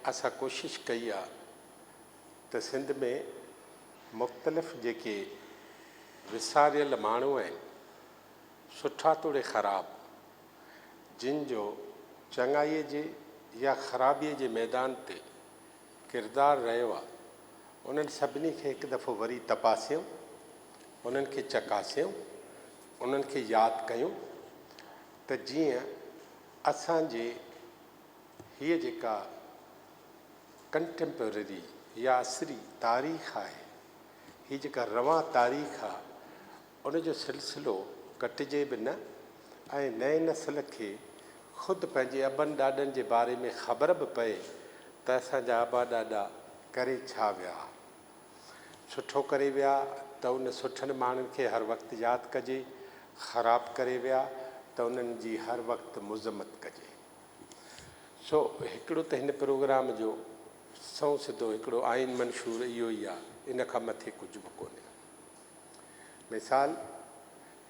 اسان ڪوشش ڪئي آ ته سنڌ ۾ مختلف جيڪي وساريل ماڻهو آهن سٺا توڙي خراب جن جو چڱائي جي يا خرابي جي ميدان تي ڪردار رهيو آ انهن سڀني کي هڪ دفعو وري تپاسيون انهن کي چڪاسيون انهن کي ياد ڪيون ته جيئن اسان جي هيء جيڪا ڪنٽيمپرري يا عصري تاريخ آهي، هيء جيڪا روان تاريخ آهي، ان جو سلسلو ڪٽجي به نه ۽ نئين نسل کي خود پنهنجي ابن ڏاڏن جي باري ۾ خبر به پئي ته اسان جا ابا ڏاڏا ڪري ڇا ويا. سٺو ڪري ويا ته ان سٺن ماڻهن کي هر وقت ياد ڪجي، خراب ڪري ويا ته انهن جي هر وقت مذمت ڪجي. سو هڪڙو ته هن پروگرام جو سنئون سڌو هڪڙو آئين منشور اهو ئي آ، ان کان مٿي ڪجهه به ڪونهي. مثال،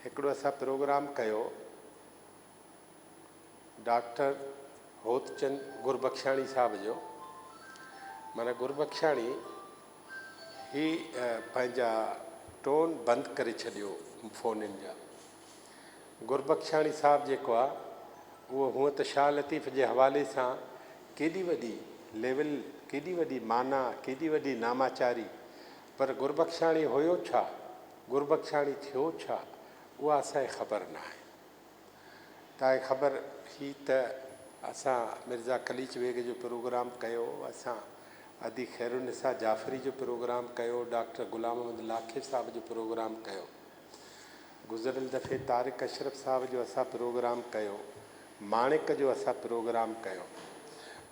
هڪڙو اسان پروگرام ڪيو ڊاڪٽر هوتچند گربخشاڻي صاحب جو معنيٰ گربخشاڻي هي پنهنجا ٽون بند ڪري ڇڏيو فونن جا گربخشاڻي صاحب جيڪو آ اهو هونء ته شاهه لطيف جي حوالي سان ڪيڏي وڏي ليول ڪيڏي وڏي معنيٰ ڪيڏي وڏي ناماچاري پر گربخشاڻي هيو ڇا گربخشاڻي ٿيو ڇا اها اسان کي خبر ناهي. تاء خبر هئي ته اسان مرزا قليچ بيگ جو پروگرام ڪيو، اسان ادي خيرالنساء جعفري جو پروگرام ڪيو، ڊاڪٽر غلام محمد لاکي صاحب جو پروگرام ڪيو. گذريل دفعي طارق اشرف صاحب جو اسان پروگرام ڪيو، ماڻڪ جو اسان پروگرام ڪيو.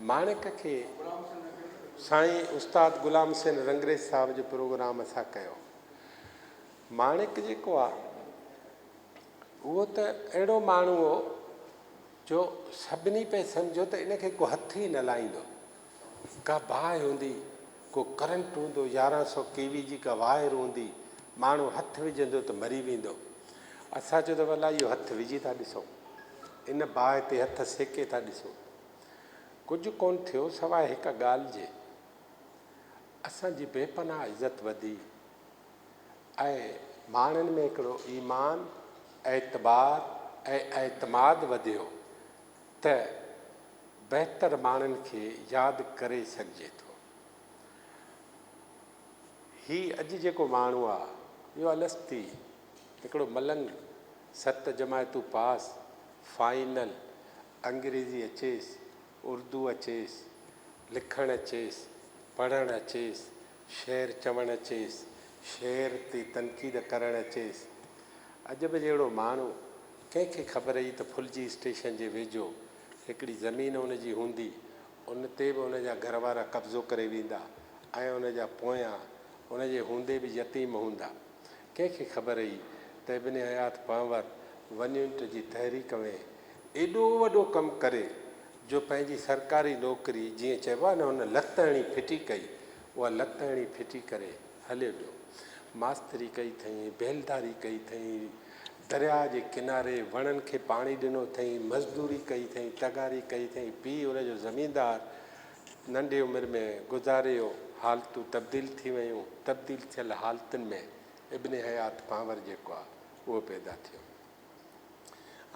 ماڻڪ کي سائين استاد غلام حسين رنگريز صاحب جو پروگرام اسان ڪيو. ماڻڪ جيڪو آ هو ته اهڙو ماڻهو هو جو سڀني پئي سمجهيو ته ان کي ڪو هٿ ئي نه لائيندو. ڪا باهه هوندي، ڪو ڪرنٽ هوندو، يارهن سؤ ڪي وي جي ڪا وائر هوندي، ماڻهو هٿ وجهندو ته مري ويندو. اسان چيو ته ولله اهو هٿ وجهي ٿا ڏسون، ان باهه تي هٿ سيڪي ٿا ڏسون. ڪجهه ڪونه ٿيو سواء هڪ ڳالهه جي، اسان جي بي پناهه عزت وڌي. ۽ ماڻهن ۾ هڪڙو ايمان، اعتبار ۽ اعتماد وڌيو ته بهتر ماڻهن کي ياد ڪري سگهجي ٿو. هي اڄ جيڪو ماڻهو آ اهو الستي هڪڙو ملنگ ست جماعتون پاس فائنل انگريزي اچيس اردو اچيس لکڻ اچيس پڙهڻ اچيس شعر چوڻ اچيس، شعر تي تنقيد ڪرڻ اچيس. عجب جهڙو ماڻهو، ڪنهن کي خبر هئي ته ڦلجي اسٽيشن جي ويجهو هڪڙي زمين ان جي هوندي، ان تي به ان جا گهر وارا قبضو ڪري ويندا ۽ ان جا پويان ان جي هوندي به يتيم هوندا. ڪنهن کي خبر هئي ته ابن حيات پنهور ونيونٽ جي تحريڪ ۾ ايڏو وڏو ڪم ڪري جو پنهنجي سرڪاري نوڪري جيئن چئبو آهي نه هن لت هڻي ڦٽي ڪئي اها لت هڻي ڦٽي ڪري هليو ويو. ماستري ڪئي اٿئين، بيلداري ڪئي اٿئين، درياء جي ڪناري وڻن کي پاڻي ڏنو اٿئين، مزدوري ڪئي اٿئين، تغاري ڪئي اٿئين، پيء ان جو زميندار ننڍي عمر ۾ گذاري ويو، حالتون تبديل ٿي ويون، تبديل ٿيل حالتن ۾ ابن حيات پانور جيڪو آهي اهو پيدا ٿيو.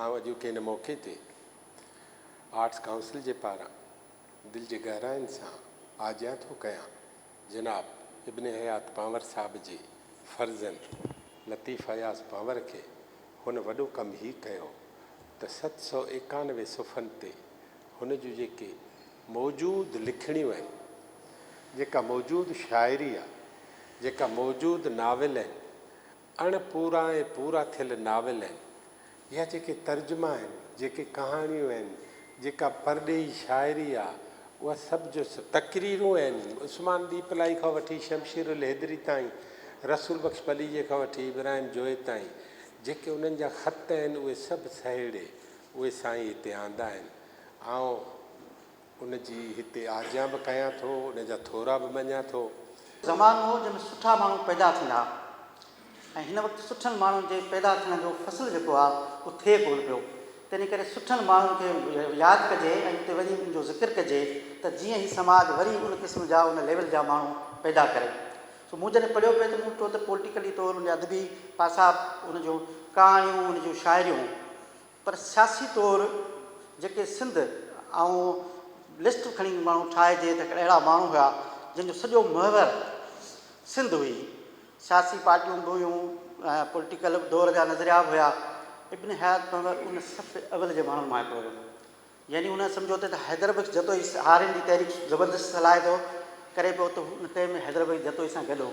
آئون اڄوڪي هن موقعي تي آرٽس ڪائونسل جي پاران دل جي گهراين سان آجيان ٿو ڪيان جناب ابن حيات پنهور صاحب جي فرزند لطيف اياز پنهور کي هن وڏو ڪم هي ڪيو ته ست سؤ ايڪانوي صفحن تي هن جون جيڪي موجود لکڻيون آهن جيڪا موجود شاعري آهي جيڪا موجود ناول آهن اڻ پورا ۽ پورا ٿيل ناول آهن يا جيڪي ترجما آهن، جيڪي ڪهاڻيون آهن، جيڪا پرڏيهي شاعري آ، اها سڀ جو سڀ. تقريرون آهن، عثمان ڏيپلائي کان وٺي شمشير الحيدري تائين، رسول بخش پليجي کان وٺي ابراهيم جويي تائين، جيڪي انهن جا خط آهن، اهي سڀ سهيڙي، اهي سائين هتي آندا آهن. آئون ان جي هتي آجيان به ڪيان ٿو، ان جا ٿورا به مڃان ٿو. زمانو هو جنهن ۾ سٺا ماڻهو پيدا ٿيندا ها ۽ هن وقت سٺن ماڻهن جي پيدا ٿيڻ جو فصل جيڪو آهي اهو ٿئي ڪونه پيو، تنهن ڪري سٺن ماڻهن کي ياد ڪجي ۽ اتي وڃي انهن جو ذڪر ڪجي ته جيئن هي سماج وري ان قسم جا ان ليول جا ماڻهو پيدا ڪري. سو مون جڏهن پڙهيو پئي ته مون ڏٺو ته پوليٽيڪلي طور ان جا ادبي پاسا ان جون ڪهاڻيون ان جون شاعريون پر سياسي طور جيڪي سنڌ آئون لسٽ کڻي ماڻهو ٺاهي جي ته اهڙا ماڻهو هيا جن جو سڄو محور سنڌ هئي سياسي پارٽيون به هيون ۽ پوليٽيڪل دور جا نظريا به هيا ابن حيات محور ان صف اول جي ماڻهن مان هڪڙو هيو. يعني ان سمجهوتي تي حيدر بخش جتوئي سهارين جي تحريڪ زبردست صلاحيت ڪري پيو ته هو ان ڪئي ۾ حيدر بخش جتوئي سان گڏ هو.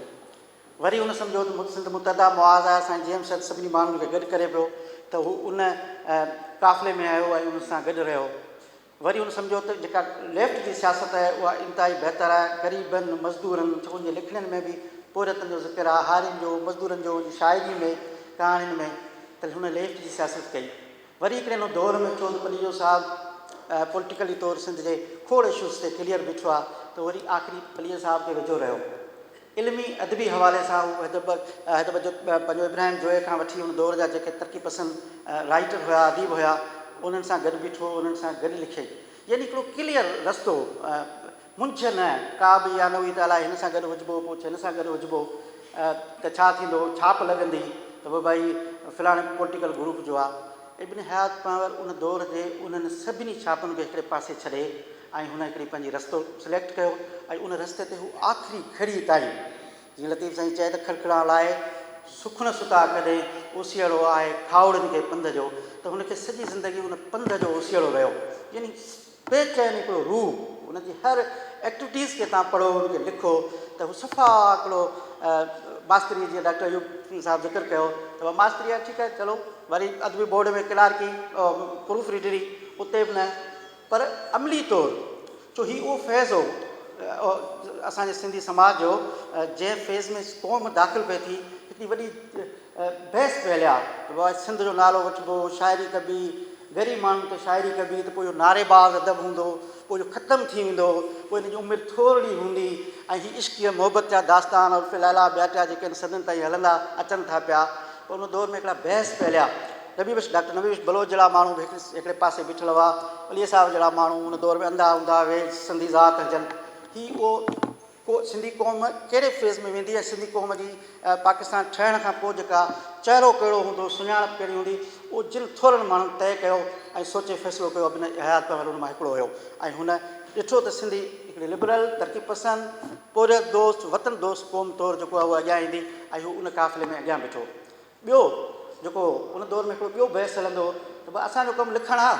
وري ان سمجهوتي سنڌ متحده معاز آيا سان جي ايم سيد سڀني ماڻهن کي گڏ ڪري پيو ته هو ان قافلي ۾ آيو ۽ ان سان گڏ رهيو. وري ان سمجهوتي جيڪا ليفٽ جي سياست آهي اها انتهائي بهتر آهي. غريبن، مزدورن، ڇو ان جي لکڻين ۾ به پورهيتن جو ذڪر آهي، هارين جو، مزدورن جو، ان جي شاعري ۾، ڪهاڻين ۾ ته هن ليفٽ جي سياست ڪئي. وري هڪڙي نو دور ۾ چون ته پليجو صاحب پوليٽيڪلي طور سنڌ جي کوڙ اشوز تي ڪليئر بيٺو آ ته وري آخري پليجو صاحب کي ويجهو رهيو علمي ادبي حوالي سان هو حدب حدب جو پنهنجو ابراهيم جويي کان وٺي ان دور جا جيڪي ترقي پسند رائيٽر هيا اديب هيا انهن سان گڏ بيٺو انهن سان گڏ لکي يعني هڪڙو ڪليئر رستو منجهه نه ڪا به اها نه هئي ته الائي هن سان گڏ هجبو، پوء هن سان گڏ هجبو ته ڇا ٿيندو، ڇاپ لڳندي ته به ڀائي فلاڻي پوليٽيڪل گروپ جو آ. ابن حيات پنهور ان دور جي انهن سڀني ڇاپن کي هڪڙي پاسي ڇڏي ۽ هن هڪڙي پنهنجي رستو سليڪٽ ڪيو ۽ ان رستي تي هو آخري گهڙي تائين جيئن لطيف سائين چئي ته کڙکڙان لاهي سخن ستا ڪڏهن اوسيئڙو آهي کاهوڙن کي پنڌ جو ته هن کي سڄي زندگي ان پنڌ جو اوسيئڙو رهيو يعني پي چين هڪڙو روح ان جي هر ايڪٽويٽيز کي تان پڙهو ان کي لکو ته هو صفا هڪڙو ماستري جي ڊاڪٽر ايوب صاحب ذڪر ڪيو ته اها ماستري آهي ٺيڪ آهي چلو وري ادبي بورڊ ۾ ڪلارڪي پروف ريڊري اتي به نه پر عملي طور جو هي اهو فيز هو اسان جي سنڌي سماج جو جنهن فيز ۾ قوم داخل پئي ٿي هڪڙي وڏي بحث به هليا ته واء سنڌ جو نالو وٺبو، شاعري ڪبي، غريب ماڻهن ته شاعري ڪبي ته پوء اهو نعري باز ادب هوندو، پوء اهو ختم ٿي ويندو، پوء ان جي عمر ٿورڙي هوندي ۽ هي عشقيه محبت جا داستان عرف ليليٰ ٻيا ٽيا جيڪي هن صدين تائين هلندا اچن ٿا پيا ته ان دور ۾ هڪڙا بحث به هليا. نبي بخش ڊاڪٽر نبي بخش بلوچ جهڙا ماڻهو به هڪڙي پاسي بيٺل هئا، عليء صاحب جهڙا ماڻهو ان دور ۾ انڌا هوندا اهي سنڌي ذات هجن هي اهو ڪو سنڌي قوم ڪهڙي فيز ۾ ويندي ۽ سنڌي قوم جي پاڪستان ٺهڻ کان پوء جيڪا چهرو ڪهڙو هوندو، سڃاڻپ ڪهڙي هوندي، اهو جن ٿورن ماڻهن طئي ڪيو ۽ سوچي فيصلو ڪيو ابن حيات پڻ انهن مان هڪڙو هيو ۽ هن ڏٺو ته سنڌي هڪڙي لبرل، ترقي پسند، پورهيت دوست، وطن دوست قوم طور جيڪو آهي اهو اڳيان ايندي ۽ هو ان قافلي ۾ اڳيان بيٺو. ٻيو جيڪو ان دور ۾ هڪڙو ٻيو بحث هلندو هو ته ڀاء اسان جو ڪم لکڻ آ،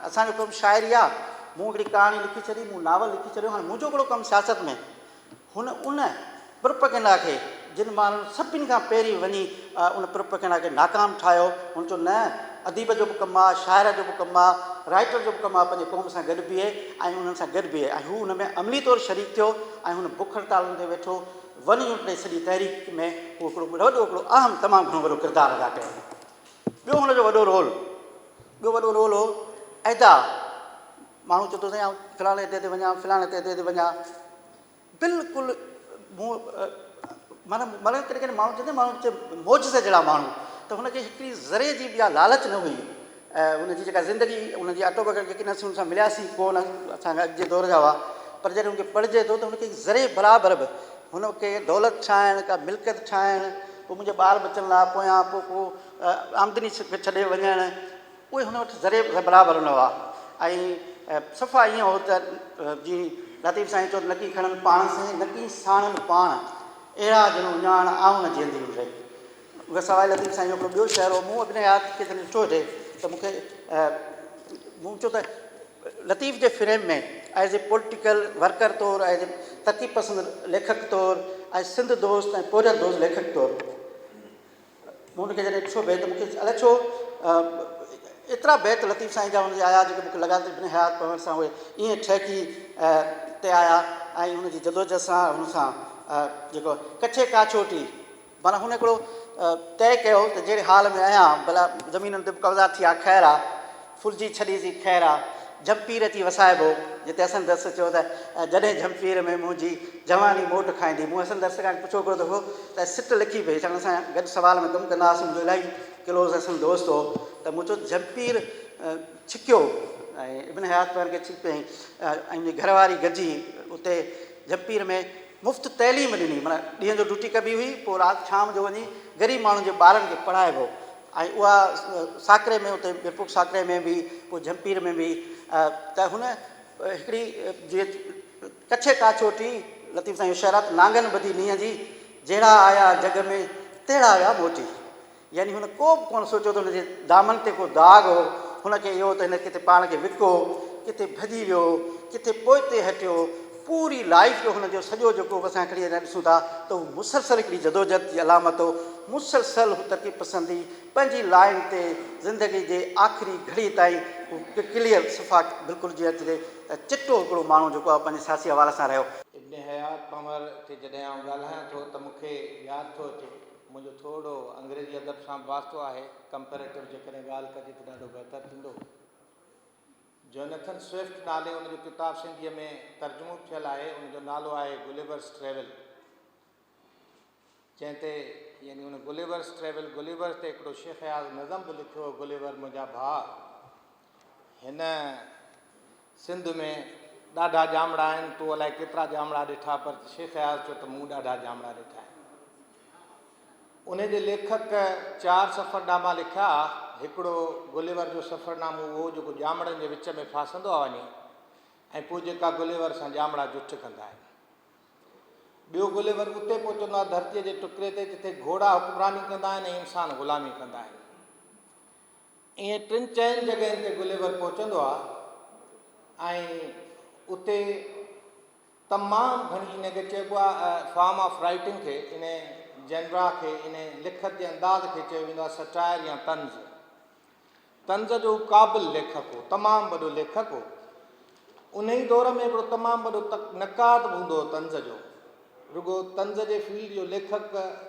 اسان جو ڪم شاعري آ، مون هڪڙي ڪهاڻي لکي ڇڏي، مون ناول لکي ڇڏيو، هاڻي منهنجو ڪهڙو ڪم سياست ۾. هن ان پرپئگنڊا کي جن ماڻهن سڀني کان پهرين وڃي ان پرپئگنڊا کي ناڪام ٺاهيو، هن چيو نه اديب جو به ڪم آ، شاعر جو به ڪم آ، رائيٽر جو به ڪم آ پنهنجي قوم سان گڏ بيهي ۽ انهن سان گڏ بيهي ۽ هو ان ۾ عملي طور شريڪ ٿيو ۽ هن بک هڙتالن تي ويٺو، ون يونٽ ۽ سڄي تحريڪ ۾ هو هڪڙو وڏو هڪڙو اهم تمام گهڻو وڏو ڪردار ادا ڪيو هو. ٻيو هن جو وڏو رول ٻيو وڏو رول هو اهدا ماڻهو چوندو سائين آئون فلاڻي عهدي تي وڃان فلاڻي عهدي تي وڃان بلڪل مون معنيٰ معنيٰ ڪڏهن ڪڏهن ماڻهو چوندو ماڻهو چي معجزي جهڙا ماڻهو ته هن کي هڪڙي ذري جي به اها لالچ نه هئي ۽ ان جي جيڪا زندگي، ان جي آٽو بيوگرافي جيڪي نصيحتون اسان ملياسين ڪو نه اسان کان اڄ جي دور جا هئا پر جڏهن ان کي پڙهجي ٿو ته ان کي ذري برابر به هن کي دولت ٺاهڻ، ڪا ملڪيت ٺاهڻ، ڪو منهنجي ٻار ٻچن لاء پويان ڪو ڪو آمدني ڇڏي وڃڻ اهي هن وٽ ذري به برابر نه هئا ۽ صفا ائين هو ته جيئن لطيف سائين چيو نه ڪي کڻن پاڻ سين نه ڪي ساڻن پاڻ اهڙا جنون اڃاڻ آئون نه جيئندي هن ري. سواء لطيف سائين جو هڪڙو ٻيو شعر هو، مون ابن حيات کي جڏهن ڏٺو هجي ته مون کي مون چيو ته لطيف جي frame ۾ as a political worker طور ايز اي ترقي پسند ليکڪ طور ۽ سنڌ دوست ۽ پورهيت دوست ليکڪ طور مون ان کي جڏهن ڏٺو بيت مون کي الائي ڇو ايترا بيت لطيف سائين جا هن جي آيا جيڪي مون کي لڳا ته ابن حيات پڙهڻ سان اهي ائين ٺهڪي تي آيا ۽ هن جي جدوجهد سان هن سان جيڪو ڪڇي ڪاڇوٽي معنيٰ هن هڪڙو طئي ڪيو ته جهڙي حال ۾ آهيان ڀلا زمينن تي به قبضا ٿي ها خير آ، ڦرجي ڇڏي سي خير آ، جهمپير اچي وسائبو، جتي حسن درس چيو ته جڏهن جهمپير ۾ منهنجي جواني موٽ کائيندي. مون حسن درس کان پڇيو هڪڙو دفعو ته سٽ لکي پئي ڇاڪاڻ اسان گڏ سوال ۾ ڪم ڪندا هئاسين، منهنجو الاهي ڪلوز حسن دوست هو ته مون چيو ته جهمپير ڇڪيو ۽ ابن حيات پير کي ڇڪيائين ۽ منهنجي گهر واري گڏجي اتي جهمپير ۾ مفت تعليم ڏني معنيٰ ڏينهن جو ڊيوٽي ڪبي هئي پوء رات شام جو وڃي غريب ماڻهن جي ٻارن کي پڙهائبو هو ۽ اها ساڪري ۾ اتي ميرپور ساڪري ۾ به پوء جهمپير ۾ به ته هن هڪڙي جي ڪڇي ڪا چوٽي لطيف سائين هوشيارات نانگن ٻڌي نينهن جي جهڙا آيا جڳ ۾ تهڙا ويا موٽي يعني هن ڪو به ڪونه سوچيو ته هن جي دامن تي ڪو داغ هو، هن کي اهو ته هن ڪٿي پاڻ کي وڪو هو، ڪٿي ڀڄي ويو هو، ڪٿي پوئتي هٽيو هو، پوري لائيف جو هن جو سڄو جيڪو به اسان کڻي اڃا ڏسون ٿا ته هو مسلسل هڪڙي جدوجهد جي علامت هو، مسلسل هو ترقي پسندي پنهنجي لائين تي زندگي جي آخري گهڙي تائين هو ڪليئر صفا بلڪل جيئن اچجي ته چٽو هڪڙو ماڻهو جيڪو آهي پنهنجي سياسي حوالي سان رهيو. ابن حيات پنهور تي جڏهن آئون ڳالهايان ٿو ته مون کي ياد ٿو اچي. منهنجو ٿورڙو انگريزي ادب سان به واسطو آهي. ڪمپيريٽو جيڪڏهن ڳالهه ڪجي ته ڏاڍو بهتر ٿيندو. جونيٿن سوئفٽ نالي ان جو ڪتاب سنڌيء ۾ ترجمو به ٿيل آهي. ان جو نالو آهي گليورس ٽريول. جنهن تي يعني ان گليورس ٽريول، گليور تي هڪڙو شيخ اياز نظم به لکيو هو، گليور منهنجا ڀاء. هن سنڌ ۾ ڏاڍا ڄامڙا آهن، تو الائي ڪيترا ڄامڙا ڏٺا پر شيخ اياز چيو ته مون ڏاڍا ڄامڙا ڏٺا آهن. انهي جي ليکڪ چار سفرناما لکيا، هڪڙو گليور جو سفرنامو اهو جيڪو ڄامڙن جي وچ ۾ ڦاسندو آ وڃي ۽ پوء جيڪا گليور سان ڄامڙا جٺ ڪندا آهن. ٻيو گليور اتي پهچندو آ ڌرتيء جي ٽڪري تي جتي گهوڙا حڪمراني ڪندا آهن ۽ انسان غلامي ڪندا آهن. ائين ٽن چئن جڳهين تي گليور پهچندو آهي ۽ اتي تمام گهڻي ان کي چئبو آهي فارم آف رائيٽنگ کي ان جنرا کي ان لکت جي انداز کي چيو ويندو آهي سٽائر يا طنز طنز جو قابل ليکڪ هو تمام وڏو ليکڪ هو انهيء دور ۾ هڪڙو تمام وڏو نقاد به هوندو هو طنز جو. رڳو طنز جي فيلڊ جو ليکڪ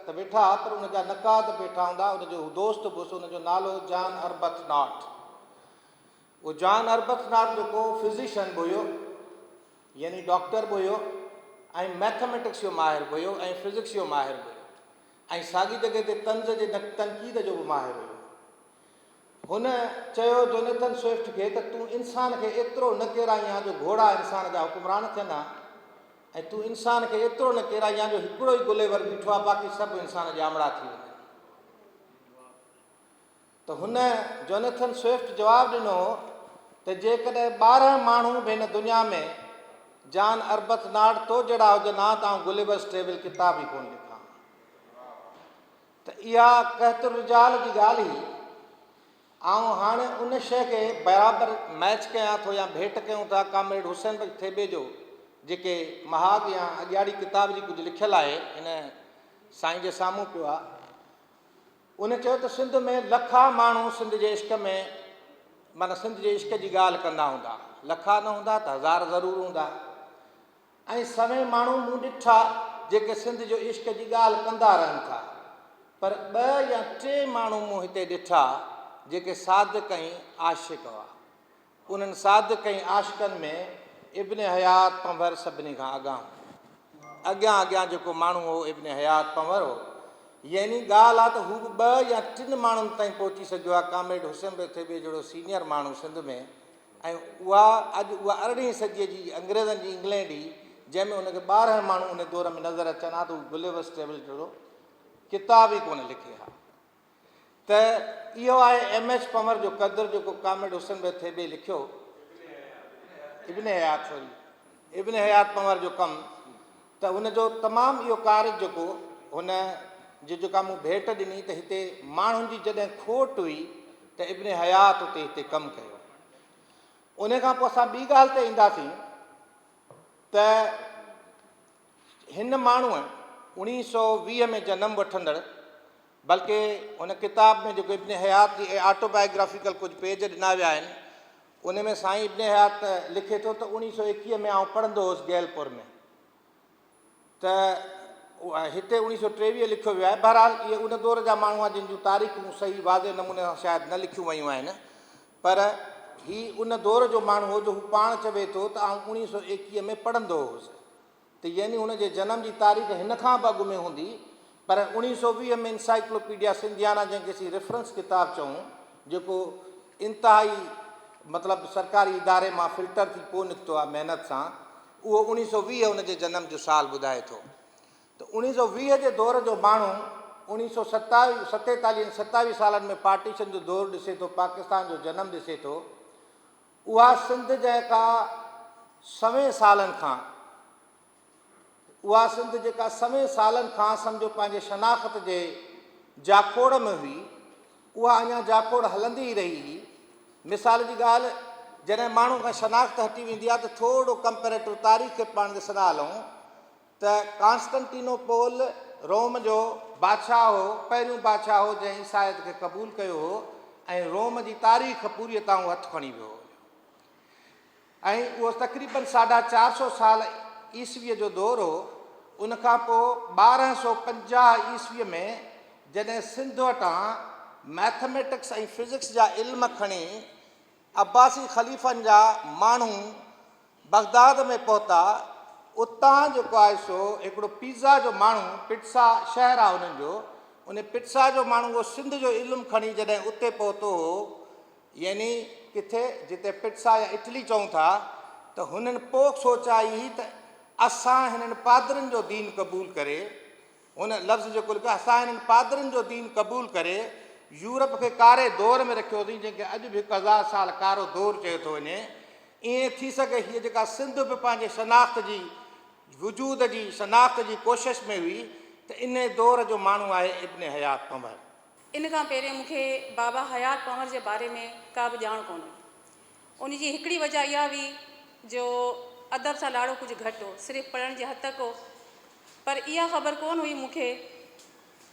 ته ويٺا ها پر ان جا نقاد به ويٺا هوندا ها. ان جو هو دوست به هوس. ان جو نالو هو جان اربٿناٽ. اهو جان اربٿناٽ جيڪو فزيشن به هيو يعني ڊاڪٽر به هيو ۽ مئٿميٽڪس جو ماهر به هيو ۽ فزڪس جو ماهر به هيو ۽ ساڳي جڳهه تي طنز جي تنقيد جو به ماهر هيو. هن چيو جونيٿن سوئفٽ کي ته تون انسان کي ايترو نه ڪيرائيان جو گهوڙا انسان جا حڪمران ٿين ها ۽ تون انسان کي ايترو نه ڪيرائيان جو هڪڙو ئي گليور بيٺو آهي باقي سڀ انسان ڄامڙا ٿي وڃن ته هن جونيٿن سوئفٽ جواب ڏنو ته جيڪڏهن ٻارهن ماڻهو به هن دنيا ۾ جان اربت ناٽ تو جهڙا هجن ها ته آئون گليورس ٽريول ڪتاب ئي ڪونه لکان ته اها قحط الرجال جي ڳالهه ئي آئون هاڻي ان شيء کي برابر ميچ ڪيان ٿو يا ڀيٽ ڪيون ٿا ڪامريڊ حسين بخش ٿيٻي جو جيڪي مهاڳ يا اڳياڙي ڪتاب جي ڪجهه لکيل آهي هن سائين جي سامهون پيو آهي ان چيو ته سنڌ ۾ لکا ماڻهو سنڌ جي عشق ۾ معنيٰ سنڌ جي عشق جي ڳالهه ڪندا هوندا لکا نه هوندا ته هزار ضرور هوندا ۽ سوين ماڻهو مون ڏٺا جيڪي سنڌ جو عشق جي ڳالهه ڪندا رهن ٿا پر ٻه يا ٽي ماڻهو مون هتي ڏٺا جيڪي صادق ۽ عاشق هئا انهن صادق ۽ عاشقن ۾ ابن حيات پنور سڀني کان اڳا هو اڳيان اڳيان جيڪو ماڻهو هو ابن حيات پنور هو يعني ڳالهه آ ته هو به ٻه يا ٽن ماڻهن تائين پهچي سگهيو آ ڪامريڊ حسين به ٿيٻي جهڙو سينيئر ماڻهو سنڌ ۾ ۽ اها اڄ اها ارڙهين صديء جي انگريزن جي انگلينڊ هئي، جنهن ۾ ان کي ٻارهن ماڻهو ان دور ۾ نظر اچن ها ته هو گليورس ٽريول جهڙو ڪتاب ئي ڪونه لکي ها ته اهو آهي ايم ايڇ پنور جو قدر جيڪو ڪامريڊ حسن بيگ ٿيٻي لکيو، ابن حيات سوري. ابن حيات پنهور جو ڪم ته ان جو تمام اهو ڪارج جيڪو هن جي جيڪا مون ڀيٽ ڏني ته هتي ماڻهن جي جڏهن کوٽ هئي ته ابن حيات اتي هتي ڪم ڪيو ان کان پوء اسان ٻي ڳالهه تي اينداسين ته هن ماڻهوء اڻيهه سو ويهه ۾ جنم وٺندڙ بلڪه هن ڪتاب ۾ جيڪو ابن حيات جي آٽوبائيگرافيڪل ڪجهه پيج ڏنا ويا آهن ان ۾ سائين ابن حيات لکي ٿو ته اوڻيهه سؤ ايڪيهه ۾ آئون پڙهندو هوس گيلپور ۾ ته هتي اوڻيهه سؤ ٽيويهه لکيو ويو آهي بهرحال اهي ان دور جا ماڻهو آهن جن جون تاريخون صحيح واضح نموني سان شايد نه لکيون ويون آهن پر هي ان دور جو ماڻهو هو جو هو پاڻ چوي ٿو ته آئون اوڻيهه سؤ ايڪيهه ۾ پڙهندو هوس ته يعني هن جي جنم جي تاريخ هن کان به اڳ ۾ هوندي پر اوڻيهه سؤ ويهه ۾ انسائيڪلوپيڊيا سنڌيانا جنهن کي اسين ريفرنس ڪتاب چئون جيڪو انتهائي مطلب سرڪاري اداري مان فلٽر ٿي پوء نڪتو آهي محنت سان اهو اوڻيهه سؤ ويهه هن جي جنم جو سال ٻڌائي ٿو ته اوڻيهه سؤ ويهه جي دور جو ماڻهو اوڻيهه سؤ ستاويهه ستيتاليهه ستاويهه سالن ۾ پارٽيشن جو دور ڏسي ٿو پاڪستان جو جنم ڏسي ٿو اها سنڌ جيڪا سوين سالن کان اها سنڌ جيڪا سوين سالن کان سمجهو پنهنجي شناخت جي جاکوڙ ۾ هئي اها اڃا جاکوڙ هلندي ئي رهي هي مثال جي ڳالهه جڏهن ماڻهو کان شناخت هٽي ويندي آهي ته ٿورڙو ڪمپيريٽو تاريخ کي پاڻ ڏسندا هلون ته ڪانسٽنٽينو پول روم جو بادشاهه هو، پهريون بادشاهه هو جنهن عيسائيت کي قبول ڪيو هو ۽ روم جي تاريخ پوريء طاعون هٿ کڻي ويو هو ۽ اهو تقريباً ساڍا چار سؤ سال عيسويء جو دور هو، ان کان پوء ٻارهن سؤ پنجاهه عيسويء ۾ جڏهن سنڌ وٽان مئٿميٽڪس ۽ فزڪس جا علم کڻي عباسي خليفن جا ماڻهو بغداد ۾ پهتا، اتان جيڪو آهي سو هڪڙو پيزا جو ماڻهو، پٽسا شهر آهي انهن جو، ان پٽسا جو ماڻهو اهو سنڌ جو علم کڻي جڏهن اتي پهتو هو، يعني ڪٿي جتي پٽسا يا اٽلي چئون ٿا، ته هنن پوء سوچيائي ته اسان هنن پادرين جو دين قبول ڪري، هن لفظ جيڪو لکيو آهي سا هنن پادرين جو دين قبول ڪري يورپ کي ڪاري دور ۾ رکيو اٿئين جنهن کي اڄ به هڪ هزار سال ڪارو دور چيو ٿو وڃي ائين ٿي سگهي هيء جيڪا سنڌ به پنهنجي شناخت جي وجود جي شناخت جي ڪوشش ۾ هئي ته انهي دور جو ماڻهو آهي ابن حيات پنور. ان کان پهرين مون کي بابا حيات پنور جي باري ۾ ڪا به ڄاڻ ڪونه هئي ان جي هڪڙي وجهه اها هئي جو ادب سان لاڙو ڪجهه گهٽ هو، صرف پڙهڻ جي حد تڪ هو. پر اها خبر ڪونه هئي مون کي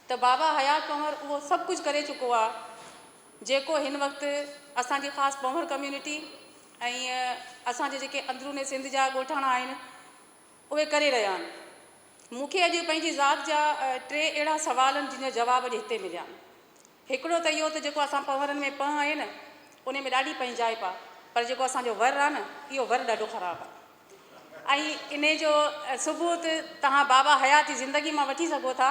ته بابا حيات پنهور اهو سڀ ڪجهه ڪري چڪو آ، جيڪو هن وقت اسان جي خاص پنهور ڪميونٽي ۽ اسان جي جيڪي اندروني سنڌ جا ڳوٺاڻا آهن، اهي ڪري رهيا آهن. مون کي اڄ پنهنجي ذات جا ٽي اهڙا سوال آهن، جن جا جواب اڄ هتي مليا آهن. هڪڙو ته اهو ته جيڪو اسان پنهورن ۾ پنهه آهي نه انهي ۾ ڏاڍي پنهنجائپ آ پر جيڪو اسان جو ور آ نه اهو ور ڏاڍو خراب آ ۽ انهي جو ثبوت توهان بابا حيات جي زندگي مان وٺي سگهو ٿا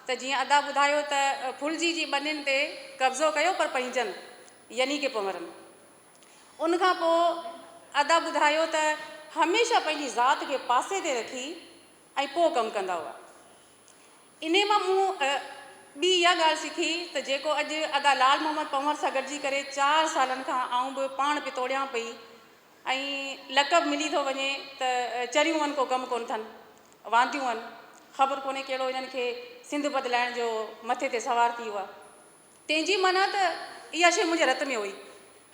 ته جيئن ادا ٻڌايو ته ڦلجي جي ٻنين تي قبضو ڪيو پر پنهنجن يعني ڪي پنهورن ان کان پو ادا ٻڌايو ته هميشه پنهنجي ذات کي پاسي تي رکي ۽ پو ڪم ڪندا هئا انهيء مان مون ٻي اها ڳالهه سکي ته جيڪو اڄ ادا لعل محمد پنهور سان گڏجي ڪري چار سالن کان آئون به پاڻ پتوڙيان پئي ۽ لقب ملي ٿو وڃي ته چريون هن ڪو ڪم ڪونه ٿن وانديون هن خبر ڪونهي ڪهڙو هنن کي سنڌ بدلائڻ جو مٿي تي سوار ٿي هئا تنهن جي معنيٰ ته اها شيء منهنجي رت ۾ هئي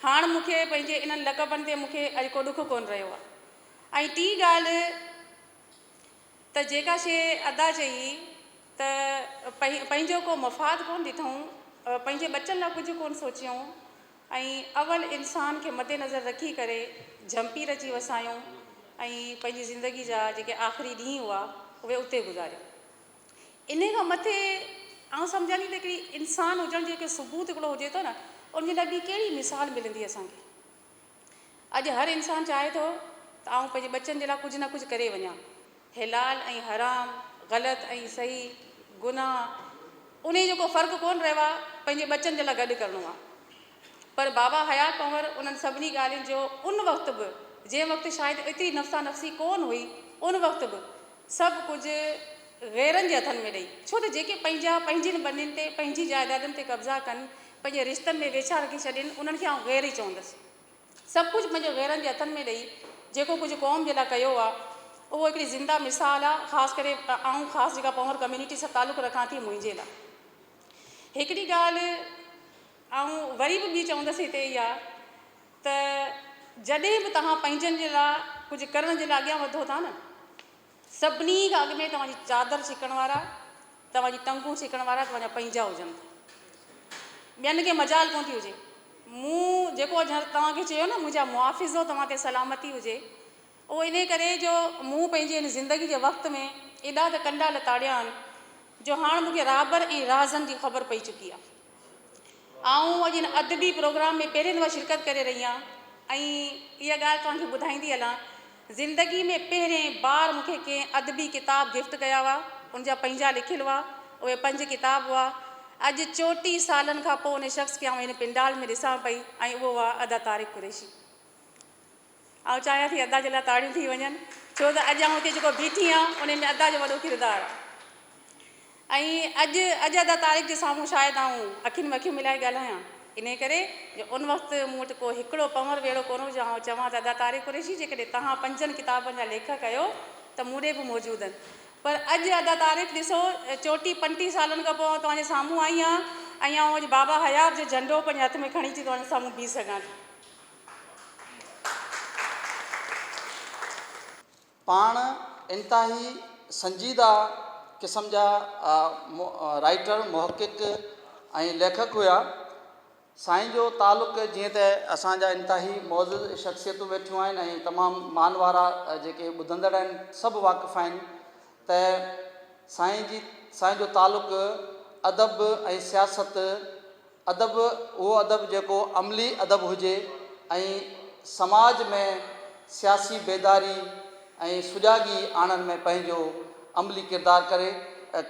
هاڻ مون کي پنهنجي انهن لقبن تي مون کي اڄ ڪو ڏک ڪونه رهيو آهي ۽ ٽي ڳالهه ته جيڪا شيء ادا چئي ته پنهن پنهنجو ڪو مفاد ڪونه ڏٺئون، پنهنجي ٻچن لاء ڪجهه ڪونه سوچيئون ۽ اول انسان کي مد نظر رکي ڪري جهمپير اچي وسايئون ۽ پنهنجي زندگي جا جيڪي آخري ڏينهن هئا اهي اتي گذاريئون. انهيء کان مٿي آئون سمجهان ٿي ته هڪڙي انسان هجڻ جو هڪڙو ثبوت هڪڙو هجي ٿو نه ان جي لاء ٻي ڪهڙي مثال ملندي اسان کي. اڄ هر انسان چاهي ٿو ته آئون پنهنجي ٻچن جي لاء ڪجهه نه ڪجهه ڪري وڃان. حلال ۽ حرام، غلط ۽ صحيح، گناهه، انهيء جو ڪو فرق ڪونه رهيو آهي، پنهنجي ٻچن جي لاء گڏ ڪرڻو آهي. پر بابا حيات پنهور انهن سڀني ڳالهين جو ان وقت به، جنهن وقت شايد ايتري نفسا نفسي ڪونه هئي، ان وقت به سڀ ڪجهه غيرن جي هٿن ۾ ڏئي، ڇو ته جيڪي پنهنجا پنهنجين ٻنين تي، پنهنجي جائدادن تي قبضا ڪن، پنهنجي رشتن ۾ ويڇا رکي ڇڏين، انهن کي آئون غير ئي چوندس. سڀ ڪجهه پنهنجي غيرن جي هٿن ۾ ڏئي جيڪو ڪجهه قوم جي لاء ڪيو آ، اهو هڪڙي زنده مثال آ، خاص ڪري آئون خاص جيڪا پنهور ڪميونٽي سان تعلق رکان ٿي منهنجي لاء. هڪڙي ڳالهه آئون وري به ٻي چوندس هتي اها ته جڏهن به توهان پنهنجن جي لاء ڪجهه ڪرڻ جي لاء اڳيان وڌو ٿا نه سڀني کان اڳ ۾ توهان جي چادر ڇڪڻ وارا، توهان جي ٽنگون ڇڪڻ وارا توهان جا پنهنجا هجن ٿا. ٻين کي مجال ڪونه ٿي هجي. مون جيڪو اڄ توهان کي چيو نه منهنجا محافظو توهان تي سلامتي هجي اهو انهيء ڪري جو مون پنهنجي هن زندگي جي وقت ۾ ايڏا ته ڪنڊا لتاڙيا آهن جو هاڻ مون کي رهبر ۽ راهزن جي خبر پئي چڪي آهي. آئون اڄ هن ادبي پروگرام ۾ پهرين دفعا شرڪت ڪري رهي آهيان ۽ اها ڳالهه توهان کي ٻڌائيندي هلان زندگي ۾ پهرين بار مون کي ڪنهن ادبي ڪتاب گفٽ ڪيا هئا ان جا پنهنجا لکيل هئا اهي پنج ڪتاب هئا اڄ چوٽيهه سالن کان پوء ان شخص کي آئون هن پنڊال ۾ ڏسان پئي ۽ اهو هئا ادا طارق قريشي آئون چاهيان ٿي ادا جي لاء تاڙيون ٿي وڃن ڇو ته اڄ آئون هتي جيڪو بيٺي آهيان ان ۾ ادا جو وڏو ڪردار آهي ۽ اڄ اڄ ادا طارق جي سامهون شايد آئون اکين ۾ اکيون ملائي ڳالهايان انهي ڪري جو ان وقت مون وٽ ڪو هڪڙو پنور به اهڙو ڪونه هو جو آئون چوان ته ادا طارق قريشي جيڪڏهن توهان پنجن ڪتابن جا ليکڪ آهيو ته مون ڏي به موجود آهن پر اڄ ادا طارق ڏسو چوٽي پنٽيهه سالن کان پوء آئون توهان جي سامهون آئي آهيان ۽ آئون اڄ بابا حيات جو جهنڊو پنهنجي هٿ ۾ کڻي اچي توهان جي سامهون بيهي سگهان ٿي پاڻ انتهائي سنجيده قسم جا رائيٽر، محقق ۽ ليکڪ هيا. سائين جو تعلق جيئن ته اسان جا انتهائي معزز شخصيتون ويٺيون آهن ۽ تمام مان وارا جيڪي ٻڌندڙ آهن سڀ واقف آهن ته سائين جي سائين جو تعلق ادب ۽ سياست ادب اهو ادب جيڪو عملي ادب هجي ۽ سماج ۾ سياسي بيداري ۽ سجاڳي آڻڻ ۾ پنهنجو عملي ڪردار ڪري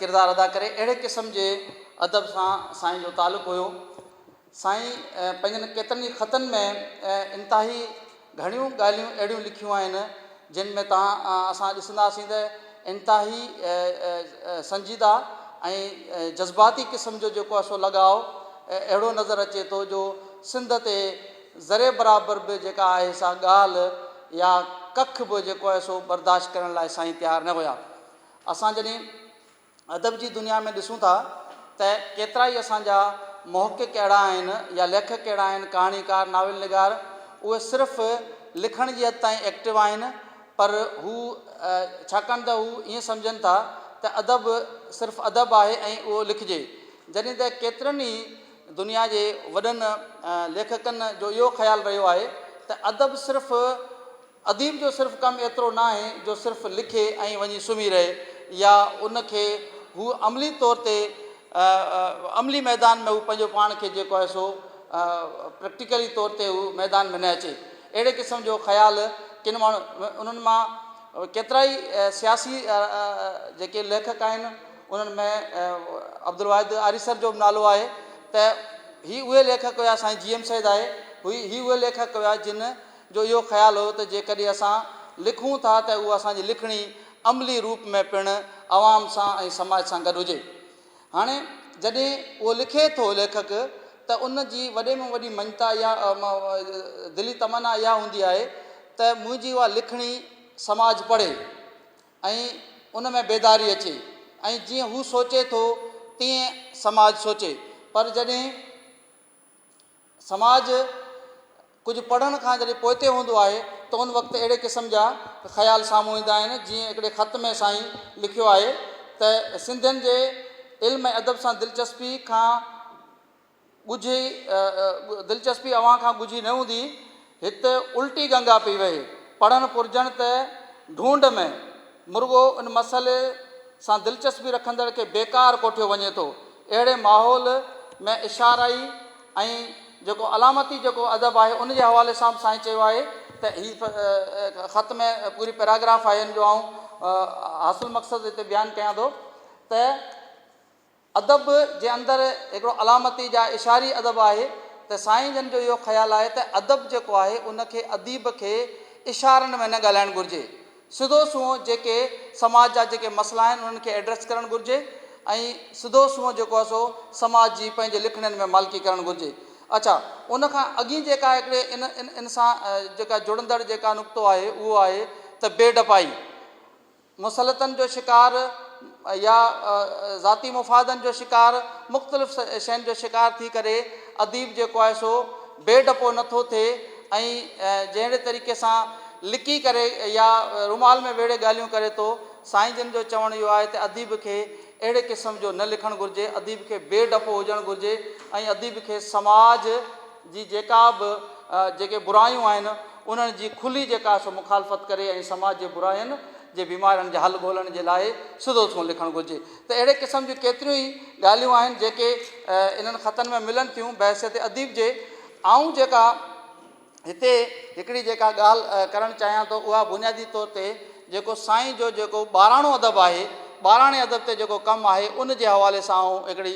ڪردار ادا ڪري اهڙي قسم جي ادب سان سائين جو تعلق هيو سائين پنهنجن ڪيترن ئي خطن ۾ انتهائي گهڻيون ڳالهيون اهڙيون لکيون آهن جن ۾ توهان اسان ڏسنداسين ته انتهائي سنجيده ۽ جذباتي قسم جو جيڪو آهي سو لڳاء اهڙو نظر اچي ٿو جو سنڌ تي ذري برابر به جيڪا آهي سا ڳالهه يا ڪک به جيڪو آهي سو برداشت ڪرڻ لاء سائين تيار نه هيا اسان جڏهن ادب جي دنيا ۾ ڏسون ٿا ته ڪيترا ئي اسان جا محقق اهڙا آهن يا ليکڪ اهڙا آهن ڪهاڻيڪار ناول نگار اهي صرف لکڻ جي حد تائين ايڪٽو آهن پر هو ڇاڪاڻ ته هو ائين سمجهن ٿا ته ادب صرف ادب آهي ۽ اهو لکجي جڏهن ته ڪيترن ئي دنيا جي وڏن ليکڪن جو اهو خيال رهيو آهي ته ادب صرف اديب جو صرف ڪم ايترو نه آهي جو صرف لکي ۽ وڃي سمهي رهي يا ان کي هو عملي طور تي عملي ميدان ۾ هو پنهنجو پاڻ کي جيڪو آهي سو پريڪٽيڪلي طور تي هو ميدان ۾ نه اچي اهڙي قسم جو خيال ڪن ماڻهن انهن مان ڪيترائي سياسي جيڪي ليکڪ آهن انهن ۾ عبدالواحد آريسر جو به نالو آهي ته هي اهي ليکڪ هيا سائين جي ايم سيد آهي هي اهي ليکڪ هيا جن جو اهو خيال هيو ته جيڪڏهن اسان لکون ٿا ته اها اسان جي لکڻي عملي روپ ۾ پڻ عوام سان ۽ سماج سان گڏ هجي. هاڻي جڏهن اهو لکي ٿو ليکڪ ته ان جي وڏي ۾ وڏي مڃتا اها دلي تمنا اها هوندي آهي ته منهنجي اها لکڻي سماج پڙهي ۽ ان ۾ بيداري اچي ۽ جيئن هو سوچي ٿو تيئن سماج سوچي پر جڏهن سماج ڪجهه پڙهڻ کان جڏهن پوئتي هوندو آهي ته ان وقت اهڙي قسم جا خيال سامهون ايندا آهن جيئن هڪڙي خط ۾ سائين لکيو آهي ته سنڌين جي علم ۽ ادب سان دلچسپي کان ڳجهي دلچسپي اوهان کان ڳجهي نه هوندي هت الٽي گنگا پئي وهي. پڙهڻ پرجڻ ته ڍونڍ ۾، مرڳو ان مسئلي سان دلچسپي رکندڙ کي بيڪار ڪوٺيو وڃي ٿو. اهڙي ماحول ۾ اشارائي ۽ جيڪو علامتي جيڪو ادب آهي ان جي حوالي سان به سائين چيو آهي ته هي خط ۾ پوري پيراگراف آهي ان جو آئون حاصل مقصد هتي بيان ڪيان ٿو ته. ادب جي اندر هڪڙو علامتي جا اشاري ادب آهي ته سائين جن جو اهو خيال آهي ته ادب جيڪو آهي ان کي اديب کي اشارن ۾ نه ڳالهائڻ گهرجي سڌو سنئون جيڪي سماج جا جيڪي مسئلا آهن انهن کي ايڊريس ڪرڻ گهرجي ۽ سڌو سنئون جيڪو آهي سو سماج جي پنهنجي لکڻين ۾ مالڪي ڪرڻ گهرجي اڇا ان کان اڳين جيڪا هڪڙي ان ان سان جيڪا جڙندڙ جيڪا نقطو آهي اهو آهي ته بي ڊپائي. مصلحتن جو شڪار يا ذاتي مفادن جو شڪار مختلف شين جو شڪار ٿي ڪري اديب جيڪو آهي سو بي ڊپو نه ٿو ٿئي ۽ جهڙي طريقي سان لڪي ڪري يا رومال ۾ ويڙهي ڳالهيون ڪري ٿو سائين جن جو چوڻ اهو آهي ته اديب کي اهڙي قسم جو نه لکڻ گهرجي اديب کي بي ڊپو هجڻ گهرجي ۽ اديب کي سماج جي جيڪا به جيڪي برايون آهن انهن جي کلي جيڪا سو مخالفت ڪري ۽ سماج جي براين جي بيمارين جي حل ڳولهڻ جي لاء سڌو سنئون لکڻ گهرجي ته اهڙي قسم جون ڪيتريون ئي ڳالهيون آهن جيڪي انهن خطن ۾ ملن ٿيون بحيثيت اديب جي آئون جيڪا هتي هڪڙي جيڪا ڳالهه ڪرڻ چاهيان ٿو اها بنيادي طور تي جيڪو سائين جو جيڪو ٻاراڻو ادب آهي ٻاراڻي ادب تي جيڪو ڪم آهي ان جي حوالي سان آئون هڪڙي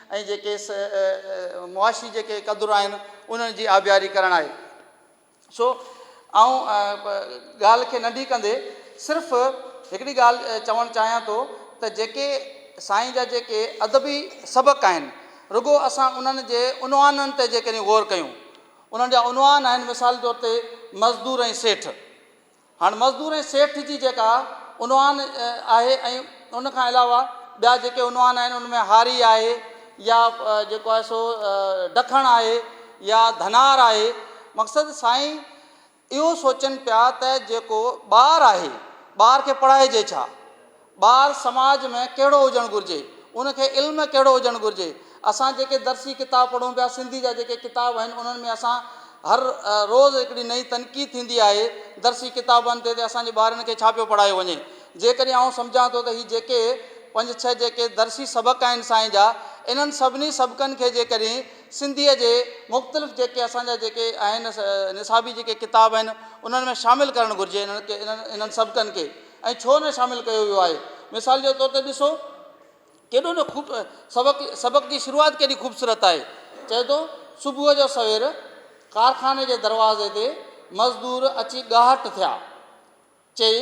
۽ جيڪي معاشي جيڪي قدر آهن انهن جي آبياري ڪرڻ آهي سو آئون ڳالهه کي ننڍي ڪندي صرف هڪڙي ڳالهه چوڻ چاهيان ٿو ته جيڪي سائين جا جيڪي ادبي سبق آهن رڳو اسان انهن جي عنوانن تي جيڪڏهن غور ڪيون انهن جا عنوان آهن مثال طور تي مزدور ۽ سيٺ هاڻ مزدور ۽ سيٺ جي جيڪا عنوان آهي ۽ ان کان علاوه ٻيا جيڪي عنوان آهن ان ۾ هاري آهي يا جيڪو آهي سو ڊکڻ آهي يا ڌنار آهي مقصد سائين اهو سوچن پيا ته جيڪو ٻار آهي ٻار کي پڙهائجي ڇا ٻار سماج ۾ ڪهڙو هجڻ گهرجي، ان کي علم ڪهڙو هجڻ گهرجي، اسان جيڪي درسي ڪتاب پڙهون پيا، سنڌي جا جيڪي ڪتاب آهن انهن ۾ اسان هر روز هڪڙي نئين تنقيد ٿيندي آهي، درسي ڪتابن تي ته اسان جي ٻارن کي ڇا پيو پڙهايو وڃي، جيڪڏهن آئون سمجهان ٿو ته هي جيڪي پنج ڇهه جيڪي درسي سبق آهن سائين جا انهن سڀني سبقن کي جيڪڏهن سنڌيء جي مختلف جيڪي اسان جا جيڪي آهن نصابي جيڪي ڪتاب آهن انهن ۾ شامل ڪرڻ گهرجي انهن کي انهن سبقن کي ۽ ڇو نه شامل ڪيو ويو آهي. مثال جي طور تي ڏسو ڪيڏو نه خوب سبق سبق جي شروعات ڪيڏي خوبصورت آهي چئي ٿو صبح جو سوير ڪارخاني جي دروازي تي مزدور اچي ڳاهٽ ٿيا چئي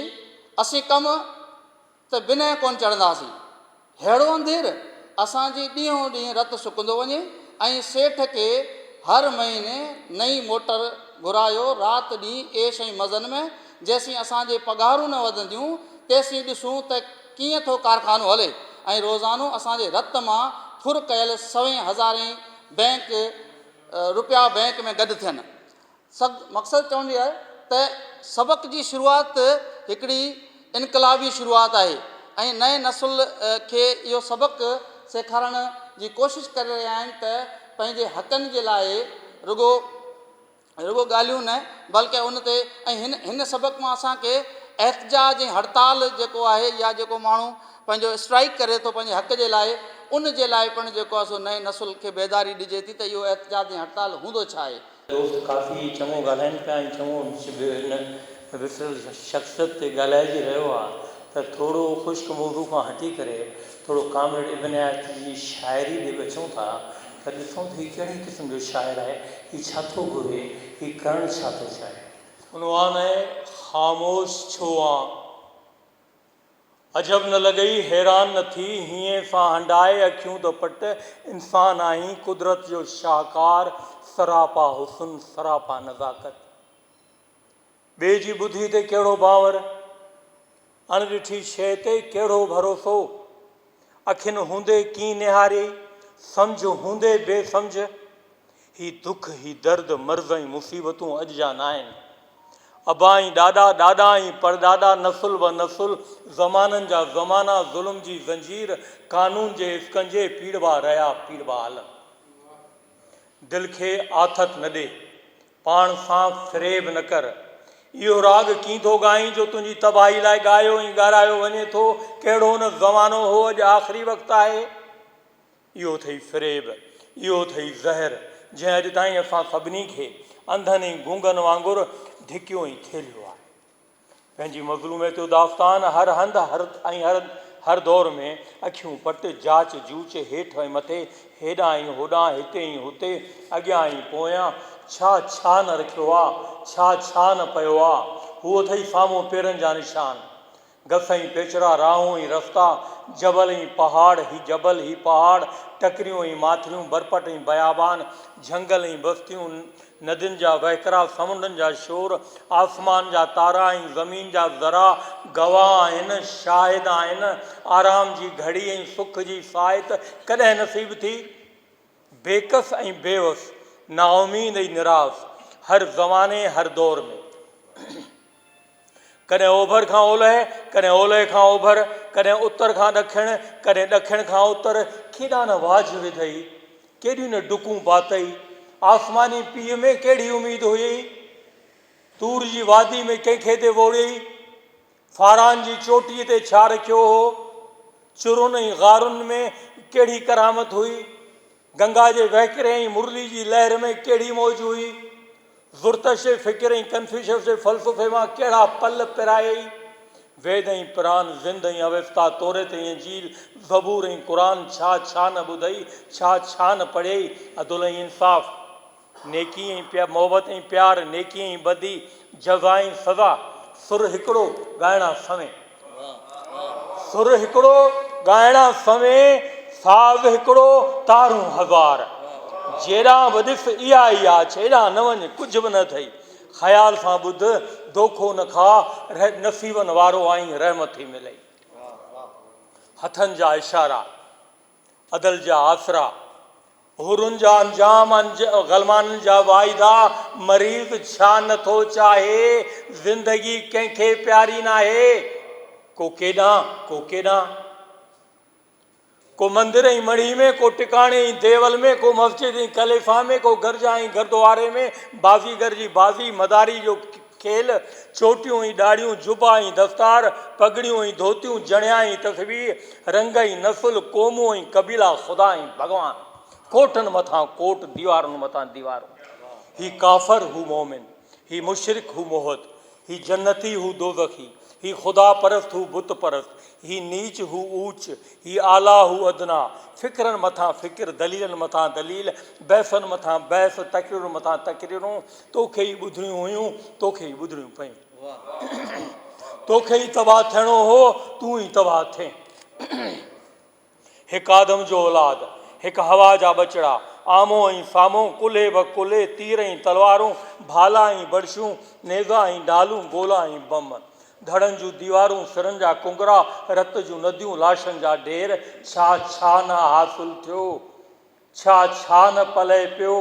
اسين ڪم ته بنهه ڪونه چڙهنداسين ههڙو انڌير اسان جي ڏينهون ڏينهن رت سڪندو وڃي ۽ سيٺ کي هر مهيني نئين موٽر گهرايو رات ڏينهن عيش ۽ مزن ۾ جيسين اسان جي پگهارون نه وڌنديون تيسين ڏسون ته ڪيئن ٿو ڪارخانو هلي ۽ روزانو اسان جي رت مان ڦر ڪيل سوين هزارين بئنڪ رپيا بئنڪ ۾ گڏ ٿين سگ مقصد چوڻ جي آهي ته سبق جي شروعات هڪڙي انقلابي شروعات آهي ۽ نئين نسل کي اهو سبق سيکارڻ جي ڪوشش ڪري رهيا آهن ته پنهنجي حقن جي لاء رڳو رڳو ڳالهيون نه بلڪه ان تي ۽ هن هن سبق مان اسان کي احتجاج ۽ هڙتال جيڪو آهي يا جيڪو ماڻهو پنهنجو اسٽرائيڪ ڪري ٿو پنهنجي حق جي لاء ان جي لاء پڻ جيڪو آهي سو نئين نسل کي بيداري ڏجي ٿي ته اهو احتجاج ۽ هڙتال هوندو ڇا آهي دوست ڪافي چڱو ڳالهائين پيا ۽ چڱو به هن وسريل شخصيت تي ڳالهائجي رهيو آهي ته ٿورو خشڪ موضوع کان هٽي ڪري ٿورو ڪامريڊ ابن عياض جي شاعري ڏي ٻچون ٿا ته ڏسون ته هي ڪهڙي قسم جو شاعر آهي هي ڇا ٿو گهري هي ڪرڻ ڇا ٿو چاهي. عنوان آهي خاموش ڇو آن؟ عجب نه لڳئي، حيران نه ٿي، هينئن سان هنڊائي اکيون ته پٽ، انسان آهين، قدرت جو شاهڪار، سراپا حسن، سراپا نزاڪت. ٻئي جي ٻڌي تي ڪهڙو باور، اڻ ڏٺي شيء تي ڪهڙو ڀروسو. اکين هوندي ڪين نهاري، سمجهه هوندي بي سمجهه. هي دک، هي درد، مرض ۽ مصيبتون اڄ جا ناهن. ابا ۽ ڏاڏا، ڏاڏا ۽ پڙڏاڏا، نسل به نسل، زمانن جا زمانا ظلم جي زنجير، قانون جي اسڪنجي پيڙبا رهيا، پيڙبا هلن. دل کي آٿت نه ڏي. پاڻ سان فريب نه ڪر. اهو راڳ ڪين ٿو ڳائين جو تنهنجي تباهي لاء ڳايو ۽ ڳارايو وڃي ٿو. ڪهڙو نه زمانو هو اڄ آخري وقت آهي. اهو اٿئي فريب، اهو اٿئي زهر جنهن اڄ تائين اسان سڀني کي انڌن ۽ گونگن وانگر ڌڪيو ۽ ٿيلهيو آهي. پنهنجي مظلوميت جو داستان هر هنڌ ۽ هر دور ۾ اکيون پٽ، جاچ جوچ، هيٺ ۽ مٿي، هيڏانهن ۽ هوڏانهن، هتي ۽ هتي، اڳيان ۽ پويان، ڇا ڇا نه رکيو آ، ڇا ڇا نه پيو آ، هو اٿئي سامهون پيرن جا نشان، گس ۽ پيچرا، راهون ۽ رستا، جبل ۽ پهاڙ، هي جبل، هي پهاڙ، ٽڪريون ۽ ماٿريون، برپٽ ۽ بيابان، جهنگل ۽ بستيون، ندين جا وهڪرا، سمنڊن جا شور، آسمان جا تارا ۽ زمين جا ذرا گواهه آهن، شاهد آهن. آرام جي گهڙي ۽ سک جي ساعت ڪڏهن نصيب ٿي؟ بيڪس ۽ بيوس، نااميد ۽ نراس، هر زماني، هر دور ۾. ڪڏهن اوڀر کان اولهه، ڪڏهن اولهه کان اوڀر، ڪڏهن اتر کان ڏکڻ، ڪڏهن ڏکڻ کان اتر، ڪيڏا نه واجهه وڌئي، ڪيڏيون نه ڊڪون پاتئي، آسماني پيء ۾ ڪهڙي اميد هئي، طور جي وادي ۾ ڪنهن کي تي ووڙيئي، فاران جي چوٽيء تي ڇا رکيو هو، چرن ۽ غارن ۾ ڪهڙي ڪرامت هئي. گنگا جي وهڪري ۽ مرلي جي لهر ۾ ڪهڙي موج هئي؟ زرتشت جي فڪر ۽ ڪنفيوشس جي فلسفي مان ڪهڙا پل پرايئي؟ ويد ۽ پران، زند ۽ اوستا، توريت ۽ انجيل، زبور ۽ قرآن ڇا ڇا نه ٻڌئي، ڇا ڇا نه پڙهيئي؟ عدل ۽ انصاف. نيڪي ۽ پيار، محبت ۽ پيار، نيڪي ۽ بدي، جزا ۽ سزا، سر هڪڙو، ڳائڻا سوين. سر هڪڙو، ڳائڻا سوين، ساز هڪڙو، تارون هزار. جيڏانهن به ڏس اها ئي آڇ، ايڏانهن نه وڃ، ڪجهه به نه اٿئي. خيال سان ٻڌ، دوکو نه کاء، نصيبن وارو آهين، رحمت ٿي ملئي. هٿن جا اشارا. عدل جا آسرا، حورن جا انجام، غلمانن جا واعدا، مريض ڇا نه ٿو چاهي، زندگي ڪنهن کي پياري ناهي، ڪو ڪيڏانهن، ڪو ڪيڏانهن، ڪو مندر ۽ مڙهي ۾، ڪو ٽڪاڻي ۽ ديول ۾، ڪو مسجد ۽ خليفا ۾، ڪو گرجا ۽ گردواري ۾، بازيگر جي بازي، مداري جو کيل، چوٽيون ۽ ڏاڙهيون، جبا ۽ دستار، پڳڙيون ۽ ڌوتيون، جڻيا ۽ تسبيح، رنگ ۽ نسل، قومون ۽ قبيلا، خدا ۽ ڀڳوان، ڪوٽن مٿان ڪوٽ، ديوارن مٿان ديوارون، هي ڪافر، هو مؤمن، هي مشرڪ، هو موحد، هي جنتي، هو دوزخي، هي خدا پرست، هو بت پرست، هي نيچ، هو اوچ، هي اعليٰ، هو ادنيٰ، فڪرن مٿان فڪر، دليلن مٿان دليل، بحثن مٿان بحث، تقريرن مٿان تقريرون، توکي ئي ٻڌڻيون هيون توکي ئي ٻڌڻيون پئين توکي ئي تباهه ٿيڻو هو تون ئي تباهه ٿين هڪ آدم جو اولاد هڪ هوا جا ٻچڙا آمو ۽ سامو ڪلهي به ڪلهي تير ۽ تلوارون ڀالا ۽ بڙشون نيزا ۽ ڍالون گولا ۽ بم ڌڙن جون ديوارون سرن جا ڪنگرا رت جون نديون لاشن جا ڍير ڇا ڇا نه حاصل ٿيو ڇا ڇا نه پلئه پيو،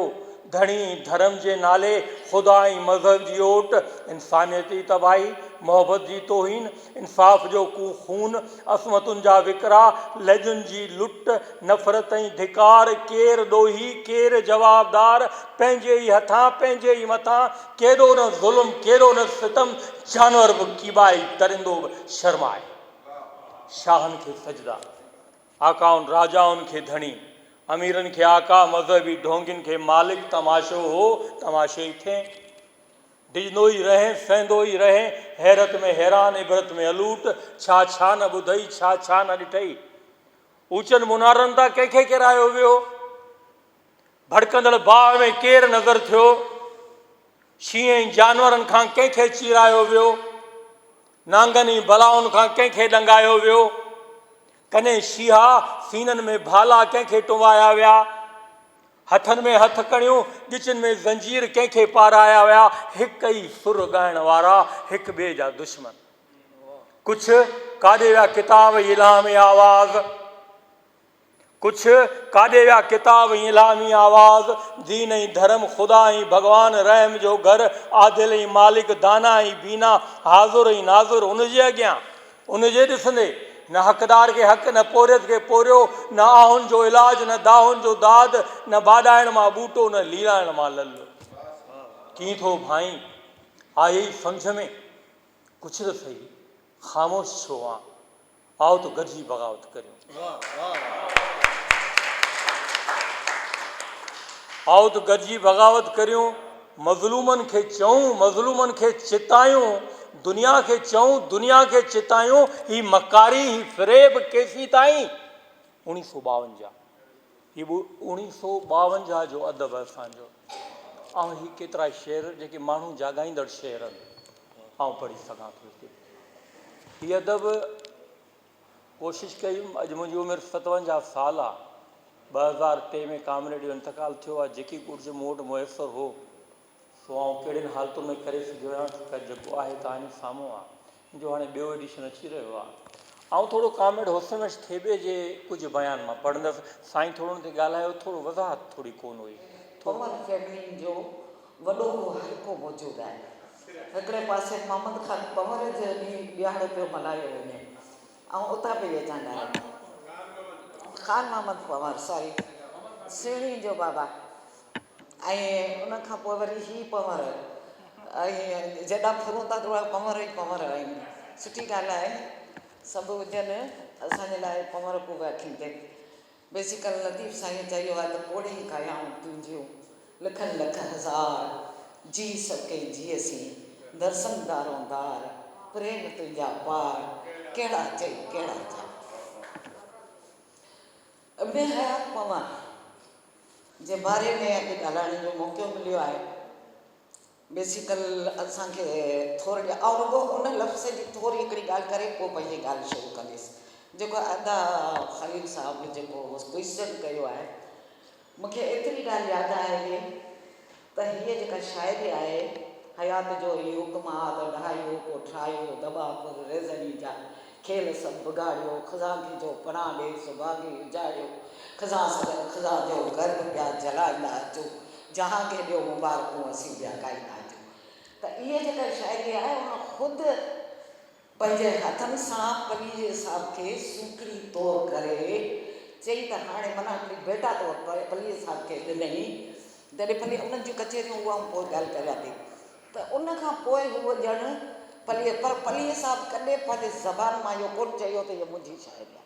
ڌڻي ڌرم جي نالي خدا ۽ مذهب جي اوٽ، انسانيت جي تباهي، محبت جي توهين، انصاف جو خون، عصمتن جا وڪرا، لڄن جي لٽ، نفرت ۽ ڌڪار، ڪير ڏوهي، ڪير جوابدار، پنهنجي ئي هٿان، پنهنجي ئي مٿان، ڪيڏو نه ظلم، ڪيڏو نه ستم، جانور به ڪيٻائي، درندو به شرمائي، شاهن کي سجدا. آقائن راجائن کي ڌڻي، اميرن کي آقا، مذهبي ڍونگين کي مالڪ، تماشو هو، تماشو ئي ٿئين. ڊڄندو ئي رهين، سهندو ئي رهين، حيرت ۾ حيران، عبرت ۾ الوٽ، ڇا ڇا نه ٻڌئي، ڇا ڇا نه ڏٺئي. اوچن منارن تان ڪنهن کي ڪيرايو ويو؟ ڀڙڪندڙ باهه ۾ ڪير نظر ٿيو؟ شينهن ۽ جانورن کان ڪنهن کي چيرايو ويو؟ نانگن ۽ بلائن کان ڪنهن کي ڏنگايو ويو؟ ڪني شيها سينن ۾ ڀالا ڪنهن کي ٽنبايا ويا؟ هٿن ۾ هٿ ڪڻيون، ڳچن ۾ زنجير ڪنهن کي پارايا ويا؟ هڪ ئي سر ڳائڻ وارا، هڪ ٻئي جا دشمن. ڪڇ، ڪاڏي ويا ڪتاب، الهامي آواز. ڪڇ ڪاڏي ويا ڪتاب ۽ الھامي آواز دين ۽ ڌرم خدا ۽ ڀڳوان رحم جو گھر عادل ۽ مالڪ دانا ۽ بينا حاضر ۽ ناظر ان جي اڳيان ان جي ڏسندي نه حقدار کي حق نه پورھيت کي پورھيو نه آھن جو علاج نه داھن جو داد نه باڏائڻ مان ٻوٽو نه ليلائڻ مان للو ڪيئن ٿو ڀانئين آيئي سمجھ ۾ ڪڇ ته سھي خاموش ڇو آن. آئو ته گڏجي بغاوت ڪريون. آئو ته گڏجي بغاوت ڪريون، مظلومن کي چئون، مظلومن کي چتايون، دنيا کي چئون، دنيا کي چتايون، هي مڪاري، هي فريب ڪيسين تائين؟ اڻيهه سؤ ٻاونجاهه. هي به اوڻيهه سؤ ٻاونجاهه جو ادب آهي اسان جو. آئون هي ڪيترا شعر جيڪي ماڻهو جاڳائيندڙ شعر آهن آئون پڙهي سگهان ٿو هتي. هي ادب ڪوشش ڪئي هيم اڄ منهنجي عمر ستونجاهه سال آهي ٻه هزار ٽي ۾ ڪامريڊ جو انتقال ٿيو آهي جيڪي ڪجهه مون وٽ ميسر هو سو آئون ڪهڙين حالتون ۾ ڪري سگهيو آهيان خير جيڪو آهي تهانجي سامهون آ ان جو هاڻي ٻيو ايڊيشن اچي رهيو آ آئون ٿورو ڪامريڊ حسن وحش ٿيٻي جي ڪجهه بيان مان پڙهندس سائين ٿورو ان تي ڳالهايو ٿورو وضاحت ٿوري ڪون هئي ٿورو پور فيملين جو وڏو هو حلقو موجود آهي هڪڙي پاسي محمد خان پنور جو ڏينهن ڏهاڙو پيو ملهايو وڃي آئون اتان پئي اچان ڳالهائڻ خان محمد پنور ساري سهڻي جو بابا ۽ ان کان پوء وري هي پنور ۽ جيڏا ڦرون ٿا تهڙا پنور ئي پنور آهن سٺي ڳالهه آهي سڀ هجن اسان جي لاء پنور ڪو ويا ٿيندي بيسيڪل لطيف سائين چيو آهي ته پوڙهي ڪايائون تنهنجيون لکن لک هزار جي سڀ ڪي جيئسين درسن دارون دار پريم تنهنجا پار ڪهڙا چئي ڪهڙا جا. ابن حيات پوان جي باري ۾ اڄ ڳالهائڻ جو موقعو مليو آهي. بيسيڪل اسان کي ٿورڙي آئون رڳو ان لفظ جي ٿوري هڪڙي ڳالهه ڪري پوء پنهنجي ڳالهه شروع ڪنديس جيڪو ادا خليل صاحب جيڪو ڪوئسچن ڪيو آهي مون کي ايتري ڳالهه ياد آهي ته هيء جيڪا شاعري آهي، حيات جو هي حڪم آ ته ڏهايو، پوء ٺاهيو، دٻا پر ريزني جا کيل سڀ بگاڙيو، خزان ٿي جو پناهه ڏي، سڀاڳي اجاڙيو، خزان سڳن خزان جو گهر به پيا جلائيندا اچو، جهان کي ڏيو مبارڪون اسين ٻيا ڳائيندا اچو. ته هيء جيڪا شاعري آهي ان خود پنهنجي هٿن سان پليجي صاحب کي سوکڙي طور ڪري چئي ته هاڻي منع هڪڙي بيٽا طور پليجي صاحب کي ڏنئين. جڏهن پليجي انهن جون ڪچهريون اهائون پوء ڳالهه ڪريان ٿي ته ان کان پوء هوء ڄڻ پليجي پر پليجي صاحب ڪڏهن پنهنجي زبان مان اهو ڪونه چيو ته هيء منهنجي شاعري آهي.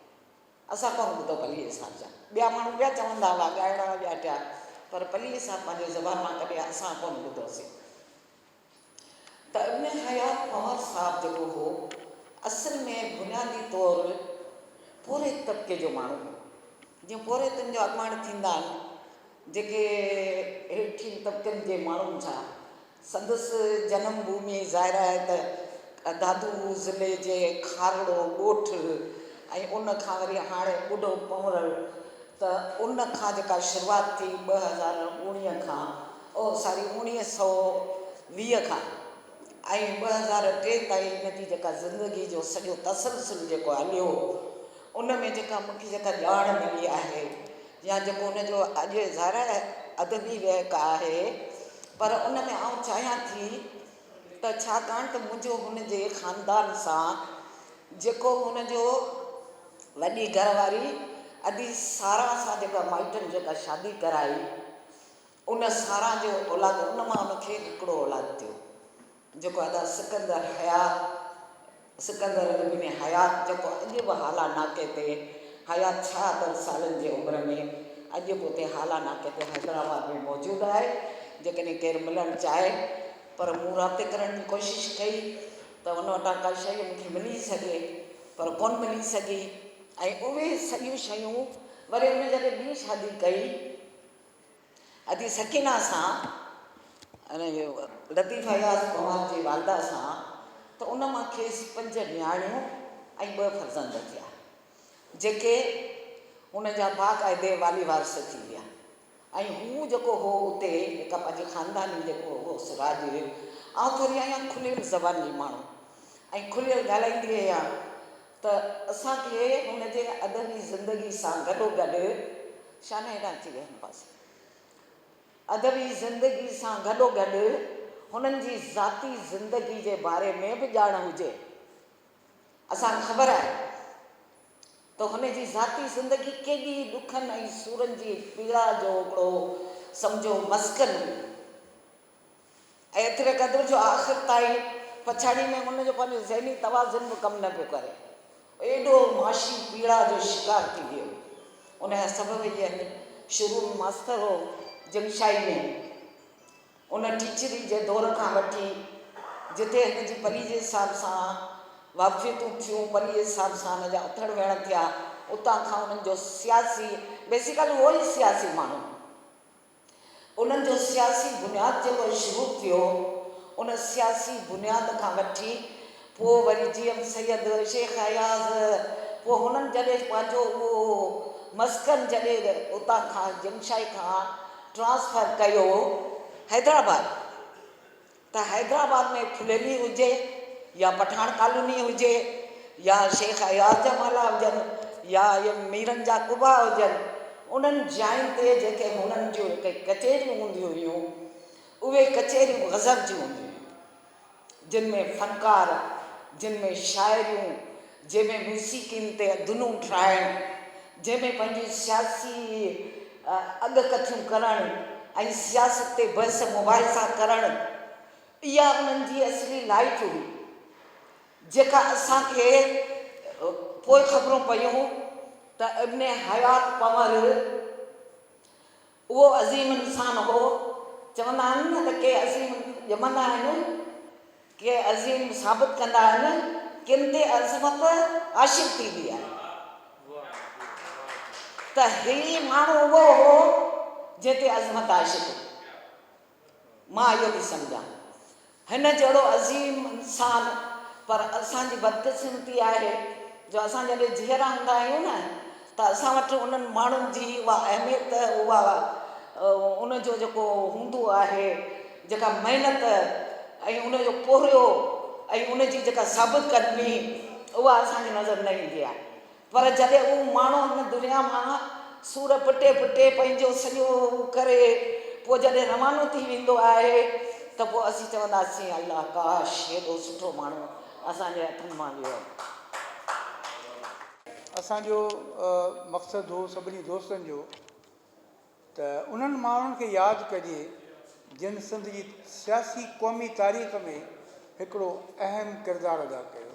اسان ڪونه ٻڌو پليجي صاحب جا ٻيا ماڻهو ٻيا چوندا هئا ڳائڻ وارا ٻيا ٽيا پر پليجي صاحب پنهنجي زبان مان ڪڏهن اسان ڪونه ٻڌوسين. ته ابن حيات عمر صاحب جيڪو هو اصل ۾ بنيادي طور پورهيت طبقي جو ماڻهو هو جيئن پورهيتن جو اڳواڻ ٿيندا آهن جيڪي هيٺين طبقن جي ماڻهن سان سندس جنم ڀومي ظاهر آهي ته دادو ضلعي جي کارڙو ڳوٺ ۽ ان کان وري هاڻي ٻڍو پنورڙ ته ان کان جيڪا شروعات ٿي ٻه هزار اڻيهه کان اهو ساري اوڻيهه سئو ويهه کان ۽ ٻه هزار ٽي تائين هن جي جيڪا زندگي جو سڄو تسلسل جيڪو هليو ان ۾ جيڪا مون کي جيڪا ڄاڻ ملي آهي يا جيڪو ان جو اڄ ظاهر آهي ادبي وهڪ آهي پر ان ۾ آئون چاهيان ٿي ته ڇاڪاڻ ته منهنجو هن جي خاندان سان جيڪو هن جو وڏي گهر واري ادي سارا سان جيڪا مائٽن جيڪا شادي ڪرائي ان سارا جو اولاد ان مان ان کي هڪڙو اولاد ٿيو جيڪو ادا سڪندر حيات سڪندر ابن حيات جيڪو اڄ به هالا ناڪي تي حيات ڇهاتر سالن جي عمر ۾ اڄ به اتي هالا ناڪي تي حيدرآباد ۾ موجود آهي جيڪڏهن ڪير ملڻ چاهي پر مون رابطي ڪرڻ جي ڪوشش ڪئي ته ان وٽان ڪا شيء مون کي ملي سگهي پر ڪونه ملي سگهي ۽ اهي سڄيون شيون وري ان جڏهن ٻي شادي ڪئي ادي سڪينه سان لطيف اياز پنهور جي والده سان ته ان مان کيس پنج نياڻيون ۽ ٻه فرزند ٿيا جيڪي هن جا باقاعدي والي وارث ٿي ويا ۽ هو جيڪو هو اتي هڪ پنهنجي خانداني جيڪو هو سراج هيو آئون ٿوري آهيان کليل زبان جي ماڻهو ۽ کليل ڳالهائيندي آهيان ته اسان کي هن جي ادبي زندگي سان گڏوگڏ شانهن ڏانهن اچي ويهنداسين. ادبي زندگي سان گڏوگڏ هنن جي ذاتي زندگي جي باري ۾ به ڄاڻ هجي. اسان کي خبر آهي ته هن جي ذاتي زندگي ڪيڏي ڏکن ۽ سورن جي پيڙا جو هڪڙو سمجهو مسڪن هئي. ايتري قدر جو آخر تائين پڇاڙيء ۾ ان جو پنهنجو ذهني توازن به ڪم نه پيو ڪري. ايڏو معاشي پيڙا جو شڪار ٿي ويو. ان جا سبب اهي آهن، شروع ۾ ماستر هو جنگشاهي ۾. ان ٽيچري جي دور کان وٺي جتي هن جي پليجي صاحب سان واقفيتون ٿيون، پليجي صاحب سان هن جا اٿڙ ويهڻ ٿيا، اتان کان انهن جو سياسي، بيسيڪلي هو ئي سياسي ماڻهو. انهن جو سياسي بنياد جيڪو شروع ٿيو ان سياسي بنياد کان وٺي پوء وري جي ايم سيد، شيخ اياز پوء هنن جڏهن پنهنجو اهو مسڪن جڏهن اتان کان جمشائي کان ٽرانسفر ڪيو حيدرآباد. ته حيدرآباد ۾ ڦليلي هجي يا پٺاڻ ڪالوني هجي يا شيخ اياز جا محلا هجن يا اهي ميرن جا قبا هجن، انهن جاين تي جيڪي هنن جون هتي ڪچهريون هونديون هيون، اهي ڪچهريون غضب جون هونديون هيون، جن ۾ فنڪار، جن ۾ شاعريون جنهن ۾ موسيقين تي اڌنون ٺاهڻ، جنهن ۾ پنهنجي سياسي اڳڪٿيون ڪرڻ ۽ سياست تي بحث مباحثا ڪرڻ، اها انهن جي اصلي لائٽ هئي، جيڪا اسان کي پوء خبرون پيون ته ابن حيات پنهور، اهو عظيم انسان هو. چوندا آهن نه ته ڪي عظيم ڄمندا آهن، ڪي عظيم ثابت ڪندا آهن، ڪن تي عظمت عاشق ٿيندي آهي ته هي ماڻهو اهو هو جنهن تي عظمت عاشق هئي. مان اهو ٿي سمجهان هن جهڙو عظيم انسان پر اسان جي بدقسمتي آهي جو اسان جڏهن جيئرا هوندا آهيون نه ته اسان وٽ انهن ماڻهن جي اها اهميت اها ان جو جيڪو هوندو آهي جيڪا محنت ۽ ان جو پورهيو ۽ ان جي جيڪا ثابت قدمي اها اسان کي نظر نه ايندي آهي پر جڏهن هو ماڻهو هن دنيا مان سور پٽي پٽي پنهنجو سڄو هو ڪري پوء جڏهن روانو ٿي ويندو آهي ته پوء اسين چونداسين الله ڪاش هيڏو سٺو ماڻهو اسان جي هٿن مان ويو هو. اسان جو مقصد هو سڀني دوستن جو ته انهن ماڻهن کي ياد ڪجي جن سنڌ جي سياسي قومي تاريخ ۾ هڪڙو اهم ڪردار ادا ڪيو.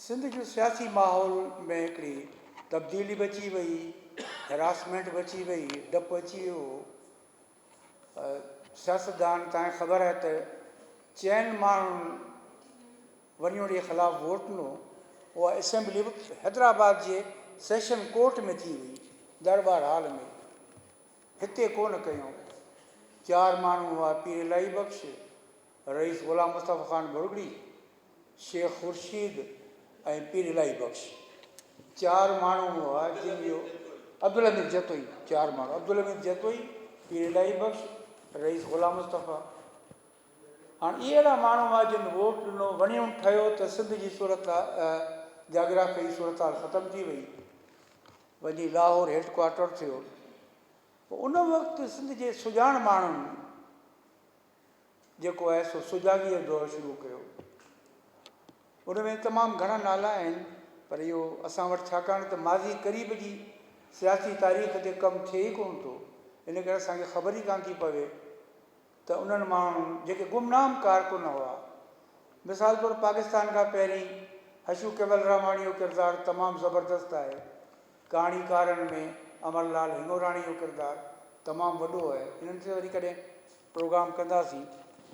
سنڌ جو سياسي ماحول ۾ هڪڙي تبديلي به اچي وئي، هراسمينٽ به اچي وئي، ڊپ اچي ويو هو. سياستدان تان خبر آهي ته چئن ماڻهن ونيوڙي خلاف ووٽ ڏنو، اها اسيمبلي به حيدرآباد جي سيشن ڪورٽ ۾ ٿي هئي، درٻار هال ۾، هتي ڪونه ڪيون. چار ماڻهو هئا، پير الاهي بخش، رئيس غلام مصطفيٰ خان ڀرڳڙي، شيخ خورشيد ۽ پير الاهي بخش چار ماڻهو هئا جن جو عبدالحميد جتوئي چار ماڻهو عبدالحميد جتوئي، پير الاهي بخش، رئيس غلام مصطفيٰ هاڻ اهي اهڙا ماڻهو هئا جن ووٽ ڏنو وڻيون ٺهيو ته سنڌ جي صورت جاگرافيائي صورتحال ختم ٿي وئي وڃي لاهور هيڊ ڪوارٽر ٿيو ان وقت سنڌ جي سڄاڻ ماڻهن جيڪو آهي سو سجاڳيء جو دور شروع ڪيو. ان ۾ تمام گهڻا نالا آهن پر اهو اسان وٽ ڇاڪاڻ ته ماضي قريب جي سياسي تاريخ تي ڪم ٿئي ئي ڪونه ٿو ان ڪري اسان کي خبر ئي ڪانه ٿي پوي ته انهن ماڻهن جيڪي گمنام ڪارڪن هئا مثال طور پاڪستان کان پهرين هشو ڪيولراماڻيء جو ڪردار تمام زبردست آهي. ڪهاڻيڪارن ۾ امر لال هنڱوراڻي جو ڪردار تمام وڏو آهي انهن تي وري ڪڏهن پروگرام ڪنداسين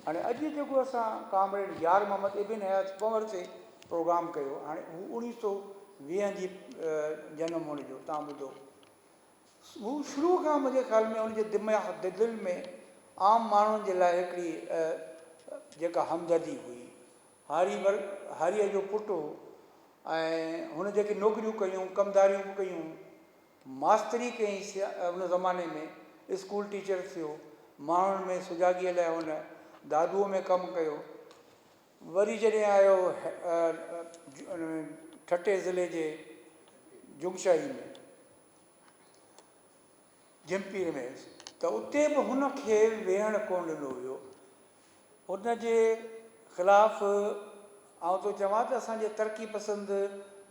هاڻي اڄ جيڪو اسان ڪامريڊ يار محمد ابن حيات پنور تي پروگرام ڪيو هاڻي هو اوڻيهه سو ويهه جي جنم هئڻ جو تان ٻڌو هو شروع کان منهنجي خيال ۾ ان جي دماغ دل ۾ عام ماڻهن جي لاء هڪڙي جيڪا همدردي هئي هاري ور هاريء جو پٽ هو ۽ هن جيڪي نوڪريون ڪيون، ڪم ڌاريون به ڪيون. ماستري ڪيائين سي ان زماني ۾ اسڪول ٽيچر ٿيو. ماڻهن ۾ سجاڳيء لاء هن دادوء ۾ ڪم ڪيو. وري جڏهن آيو ٺٽي ضلعي جي جوگشاهي ۾ جهمپير ۾ ته اتي به هن کي ويهڻ ڪونه ڏنو ويو. ان جي خلاف آئون ٿو چوان ته اسان جي ترقي پسند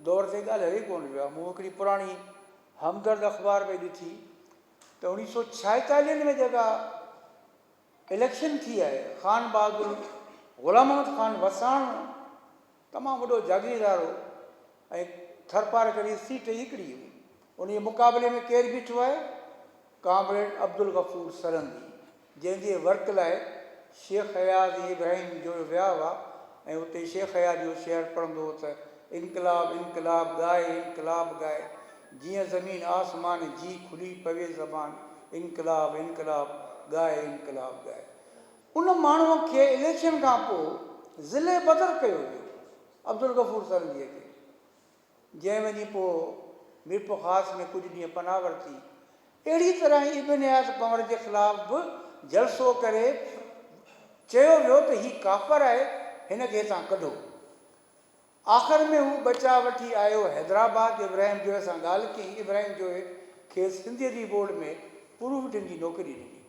دور تي ڳالهه هلي ڪونه رهيو آهي. مون هڪڙي پراڻي همدرد اخبار پئي ڏٺي ته اڻيهه سؤ ڇائيتاليهن ۾ جيڪا اليڪشن ٿي آهي خان بهادر غلام محمد خان وساڻ تمام وڏو جاگيردار هو ۽ ٿرپارڪر جي سيٽ ئي هڪڙي هئي. ان جي مقابلي ۾ ڪير بيٺو آهي؟ ڪامريڊ عبدالغفور سرهندي، جنهن جي ورت لاء شيخ اياز ۽ ابراهيم جويو ويا هئا ۽ اتي شيخ اياز جو شعر پڙهندو هو ته، انقلاب انقلاب ڳاء انقلاب ڳاء، جيئن زمين آسمان جي کلي پوي زبان، انقلاب انقلاب ڳاء انقلاب ڳاء. ان ماڻهوء کي اليڪشن کان پوء ضلعي بدر ڪيو ويو عبدالغفور سرنگيء کي، جنهن وڃي پوء ميرپورخاص ۾ ڪجهه ڏينهن پناهه ورتي. اهڙيء طرح ئي ابن اياز پنور جي خلاف به جلسو ڪري چيو ويو ته هي ڪافر آهي، هن کي هتان ڪڍو. آخر ۾ هو بچاء وٺي آيو حيدرآباد، ابراهيم جويي سان ڳالهه ڪيائين، ابراهيم جويي کيس سنڌي ادبي بورڊ ۾ پروف ڊن جي نوڪري ڏني.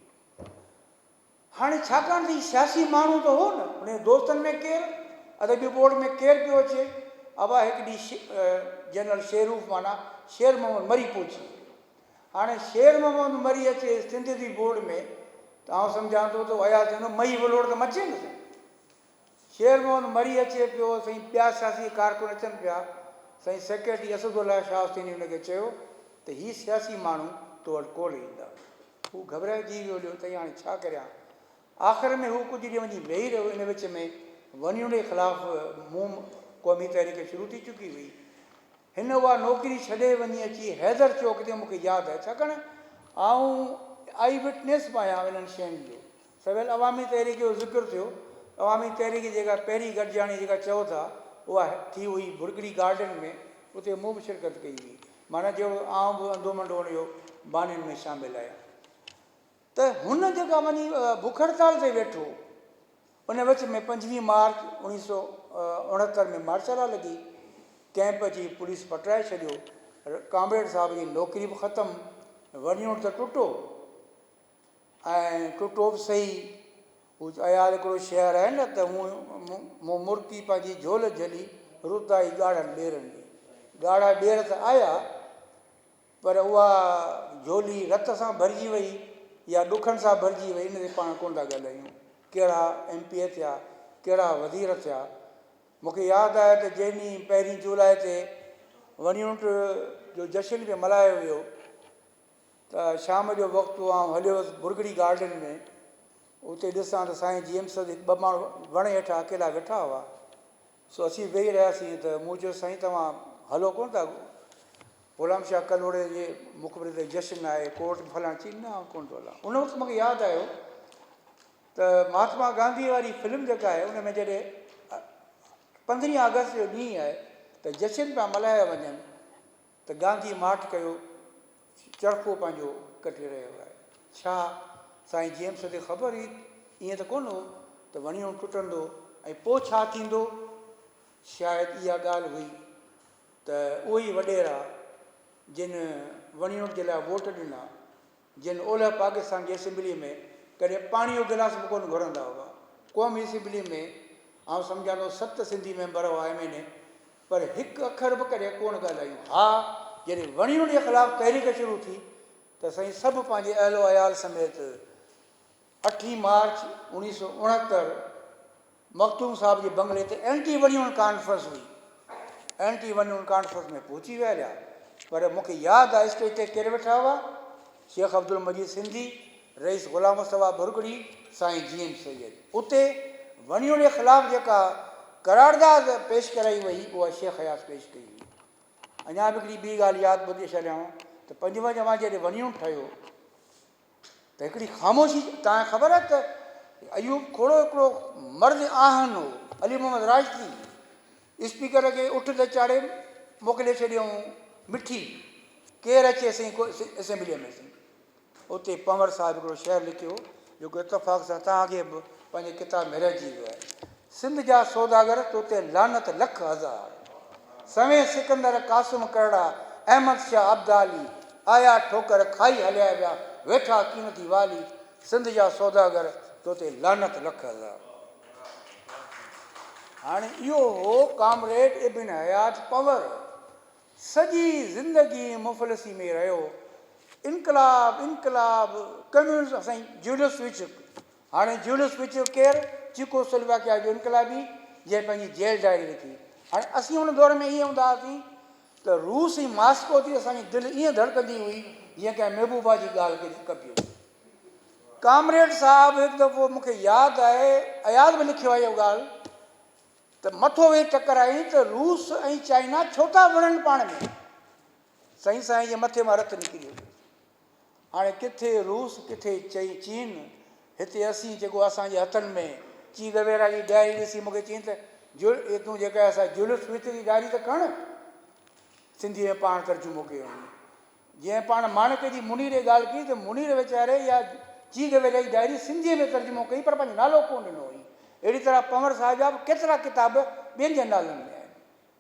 هاڻي ڇاڪاڻ ته هي سياسي ماڻهو ته هو نه، هن جي دوستن ۾ ڪير، ادبي بورڊ ۾ ڪير پيو اچي؟ ابا هڪ ڏينهن شي جنرل شيروف معنيٰ شير محمد مري پهچي ويو. هاڻي شير محمد مري اچي سنڌ ادبي بورڊ ۾ ته آئون سمجهان ٿو ته اياز چوندو مئي ولوڙ ته مچي نه سگهي. شير محمد مري اچي پيو سائين ٻيا سياسي ڪارڪن اچن پيا سائين سيڪريٽري اسد الله شاهه حسيني هن کي چيو ته هي سياسي ماڻهو تو وٽ ڪونه ايندا هو گهٻرائجي ويو ليو تئي هاڻي ڇا ڪريان آخر ۾ هو ڪجهه ڏينهن وڃي ويهي رهيو ان وچ ۾ ونيوني خلاف موم قومي تحريڪ شروع ٿي چڪي هئي هن اها نوڪري ڇڏي وڃي اچي حيدر چوڪ تي مون کي ياد آهي ڇاڪاڻ آئون آئي وٽنيس به آهيان انهن شين جو سويل عوامي تحريڪ جو ذڪر ٿيو، عوامي تحريڪ جيڪا پهرين گڏجاڻي جيڪا چئو ٿا اها ٿي هئي ڀرڳڙي گارڊن ۾ اتي مون به شرڪت ڪئي هئي معنيٰ جهڙو آئون به انڌو منڊو ان جو بانين ۾ شامل آهيان ته هن جيڪا وڃي بک هڙتال تي ويٺو ان وچ ۾ پنجويهه مارچ اوڻيهه سو اڻهتر ۾ مارشلا لڳي ڪئمپ جي پوليس پٽرائي ڇڏيو ڪامريڊ صاحب جي نوڪري به ختم ورنيون ته ٽٽو ۽ ٽٽو به سهي، هو عيال هڪڙو شهر آهي نه ته هون مون مرڪي پنهنجي جهول جهلي رت آئي ڳاڙهن ٻيرن ۾. ڳاڙها ٻير ته آيا پر اها جهولي رت سان ڀرجي وئي يا ڏکن سان ڀرجي وئي ان تي پاڻ ڪونه ٿا ڳالهايون. ڪهڙا ايم پي اي ٿيا، ڪهڙا وزير ٿيا. مون کي ياد آهي ته جنهن ڏينهن پهرين جولاء تي وڻيونٽ جو جشن به ملهايو ويو، ته شام جو وقت هو آئون هليو ويس برگڙي گارڊن ۾ اتي ڏسان ته سائين جي ايم سيد هڪ ٻه ماڻهو وڻ هيٺ اڪيلا ويٺا هئا سو اسين ويهي رهياسين ته مون چيو سائين توهان هلو ڪونه ٿا غلام شاهه ڪلهوڙي جي مقبري تي جشن آهي ڪورٽ فلاڻ چي نه آئون ڪونه ٿو هلان ان وقت مونکي ياد آيو ته مهاتما گانڌي واري فلم جيڪا آهي ان ۾ جڏهن پندرهين آگسٽ جو ڏينهن آهي ته جشن پيا ملهايا وڃن ته گانڌي ماٺ ڪيو چرخو پنهنجو ڪٽي رهيو آهي. ڇا سائين جيمس کي خبر هئي ته ائين ته ڪونه هو ته وڻيون ٽٽندو ۽ پوء ڇا ٿيندو؟ شايد اها ڳالهه هئي ته اهي ئي وڏيرا جن وڻيون جي لاء ووٽ ڏنا، جن اولهه پاڪستان جي اسيمبليء ۾ ڪڏهن پاڻيء جو گلاس به ڪونه گهرندا هئا. قومي اسيمبليء ۾ آئون سمجهان ٿو ست سنڌي ميمبر هئا ايم اين اي پر هڪ اکر به ڪڏهن ڪونه ڳالهايون. ها جڏهن وڻيون جي خلاف تحريڪ شروع ٿي ته سائين سڀ پنهنجي اهل و عيال سميت اٺين مارچ اوڻيهه سؤ اڻهتر مخدوم صاحب جي بنگلي تي اينٽي ونيون ڪانفرنس هئي. اينٽي ونيون ڪانفرنس ۾ پهچي ويهاريا پر مون کي ياد آهي اسٽيج تي ڪير ويٺا هئا؟ شيخ عبدالمجيد سنڌي، رئيس غلام مصطفيٰ ڀرڳڙي، سائين جي ايم سيد. اتي ونيون جي خلاف جيڪا قرارداد پيش ڪرائي وئي اها شيخ اياز پيش ڪئي هئي. اڃا به هڪڙي ٻي ڳالهه ياد ٻڌي ڇڏيانو ته پنجونجاهه جڏهن ونيون ٺهيو ته هڪڙي خاموشي توهان کي خبر آهي ته ايوب کهڙو هڪڙو مرد آهن هو علي محمد راشدي اسپيڪر کي اٺ تي چاڙهي موڪلي ڇڏيائون مٺي ڪير اچي سائين ڪو اسيمبليء ۾ سائين اتي پنور صاحب هڪڙو شعر لکيو جيڪو اتفاق سان توهان کي به پنهنجي ڪتاب ۾ رهجي ويو آهي سنڌ جا سوداگر تو تي لعنت لک هزار. سوين سڪندر قاسم ڪرڙا احمد شاھ ابدالي آيا ٺوڪر کائي هليا ويا ويٺا قيمتي والي سنڌ جا سوداگر تو تي لعنت لک هزار. هاڻي اهو هو ڪامريڊ ابن حيات پنور سڄي زندگي مفلسي ۾ رهيو انقلاب انقلاب ڪميونزم سائين جيولس وچ. هاڻي جيولس به چيو ڪير؟ چيڪو سلواڪيا جو انقلابي، جنهن پنهنجي جيل ڊائري لکي. هاڻي اسين ان دور ۾ ائين هوندا هئاسين ته روس ۽ ماسڪو تي اسان جي دل ائين ڌڙڪندي هئي جيئن ڪنهن محبوبا جي ڳالهه کي ڪبي هجي. ڪامريڊ صاحب هڪ دفعو مون کي ياد آهي اياز به لکيو آهي اها ڳالهه ته مٿو ويهي ٽڪرايائين ته روس ۽ چائنا ڇو ٿا وڙهن پاڻ ۾؟ سائين سائين جي مٿي مان رت نڪري ويو. هاڻي ڪٿي روس ڪٿي چئين چين هتي اسين جيڪو اسان جي هٿن ۾ چي گويرا جي ڊائري ڏسي مونکي چين ته جل اي تون جيڪا اسا جلف فطر جي ڊائري ته کڻ سنڌي ۾ پاڻ ترجمو ڪيو هن جنهن پاڻ ماڻڪ جي منير جي ڳالهه ڪئي ته منير ويچاري يا چي گويرا جي ڊائري سنڌي ۾ ترجمو ڪئي پر پنهنجو نالو ڪون ڏنو هئي اهڙي طرح پنور صاحب جا به ڪيترا ڪتاب ٻين جي نالن ۾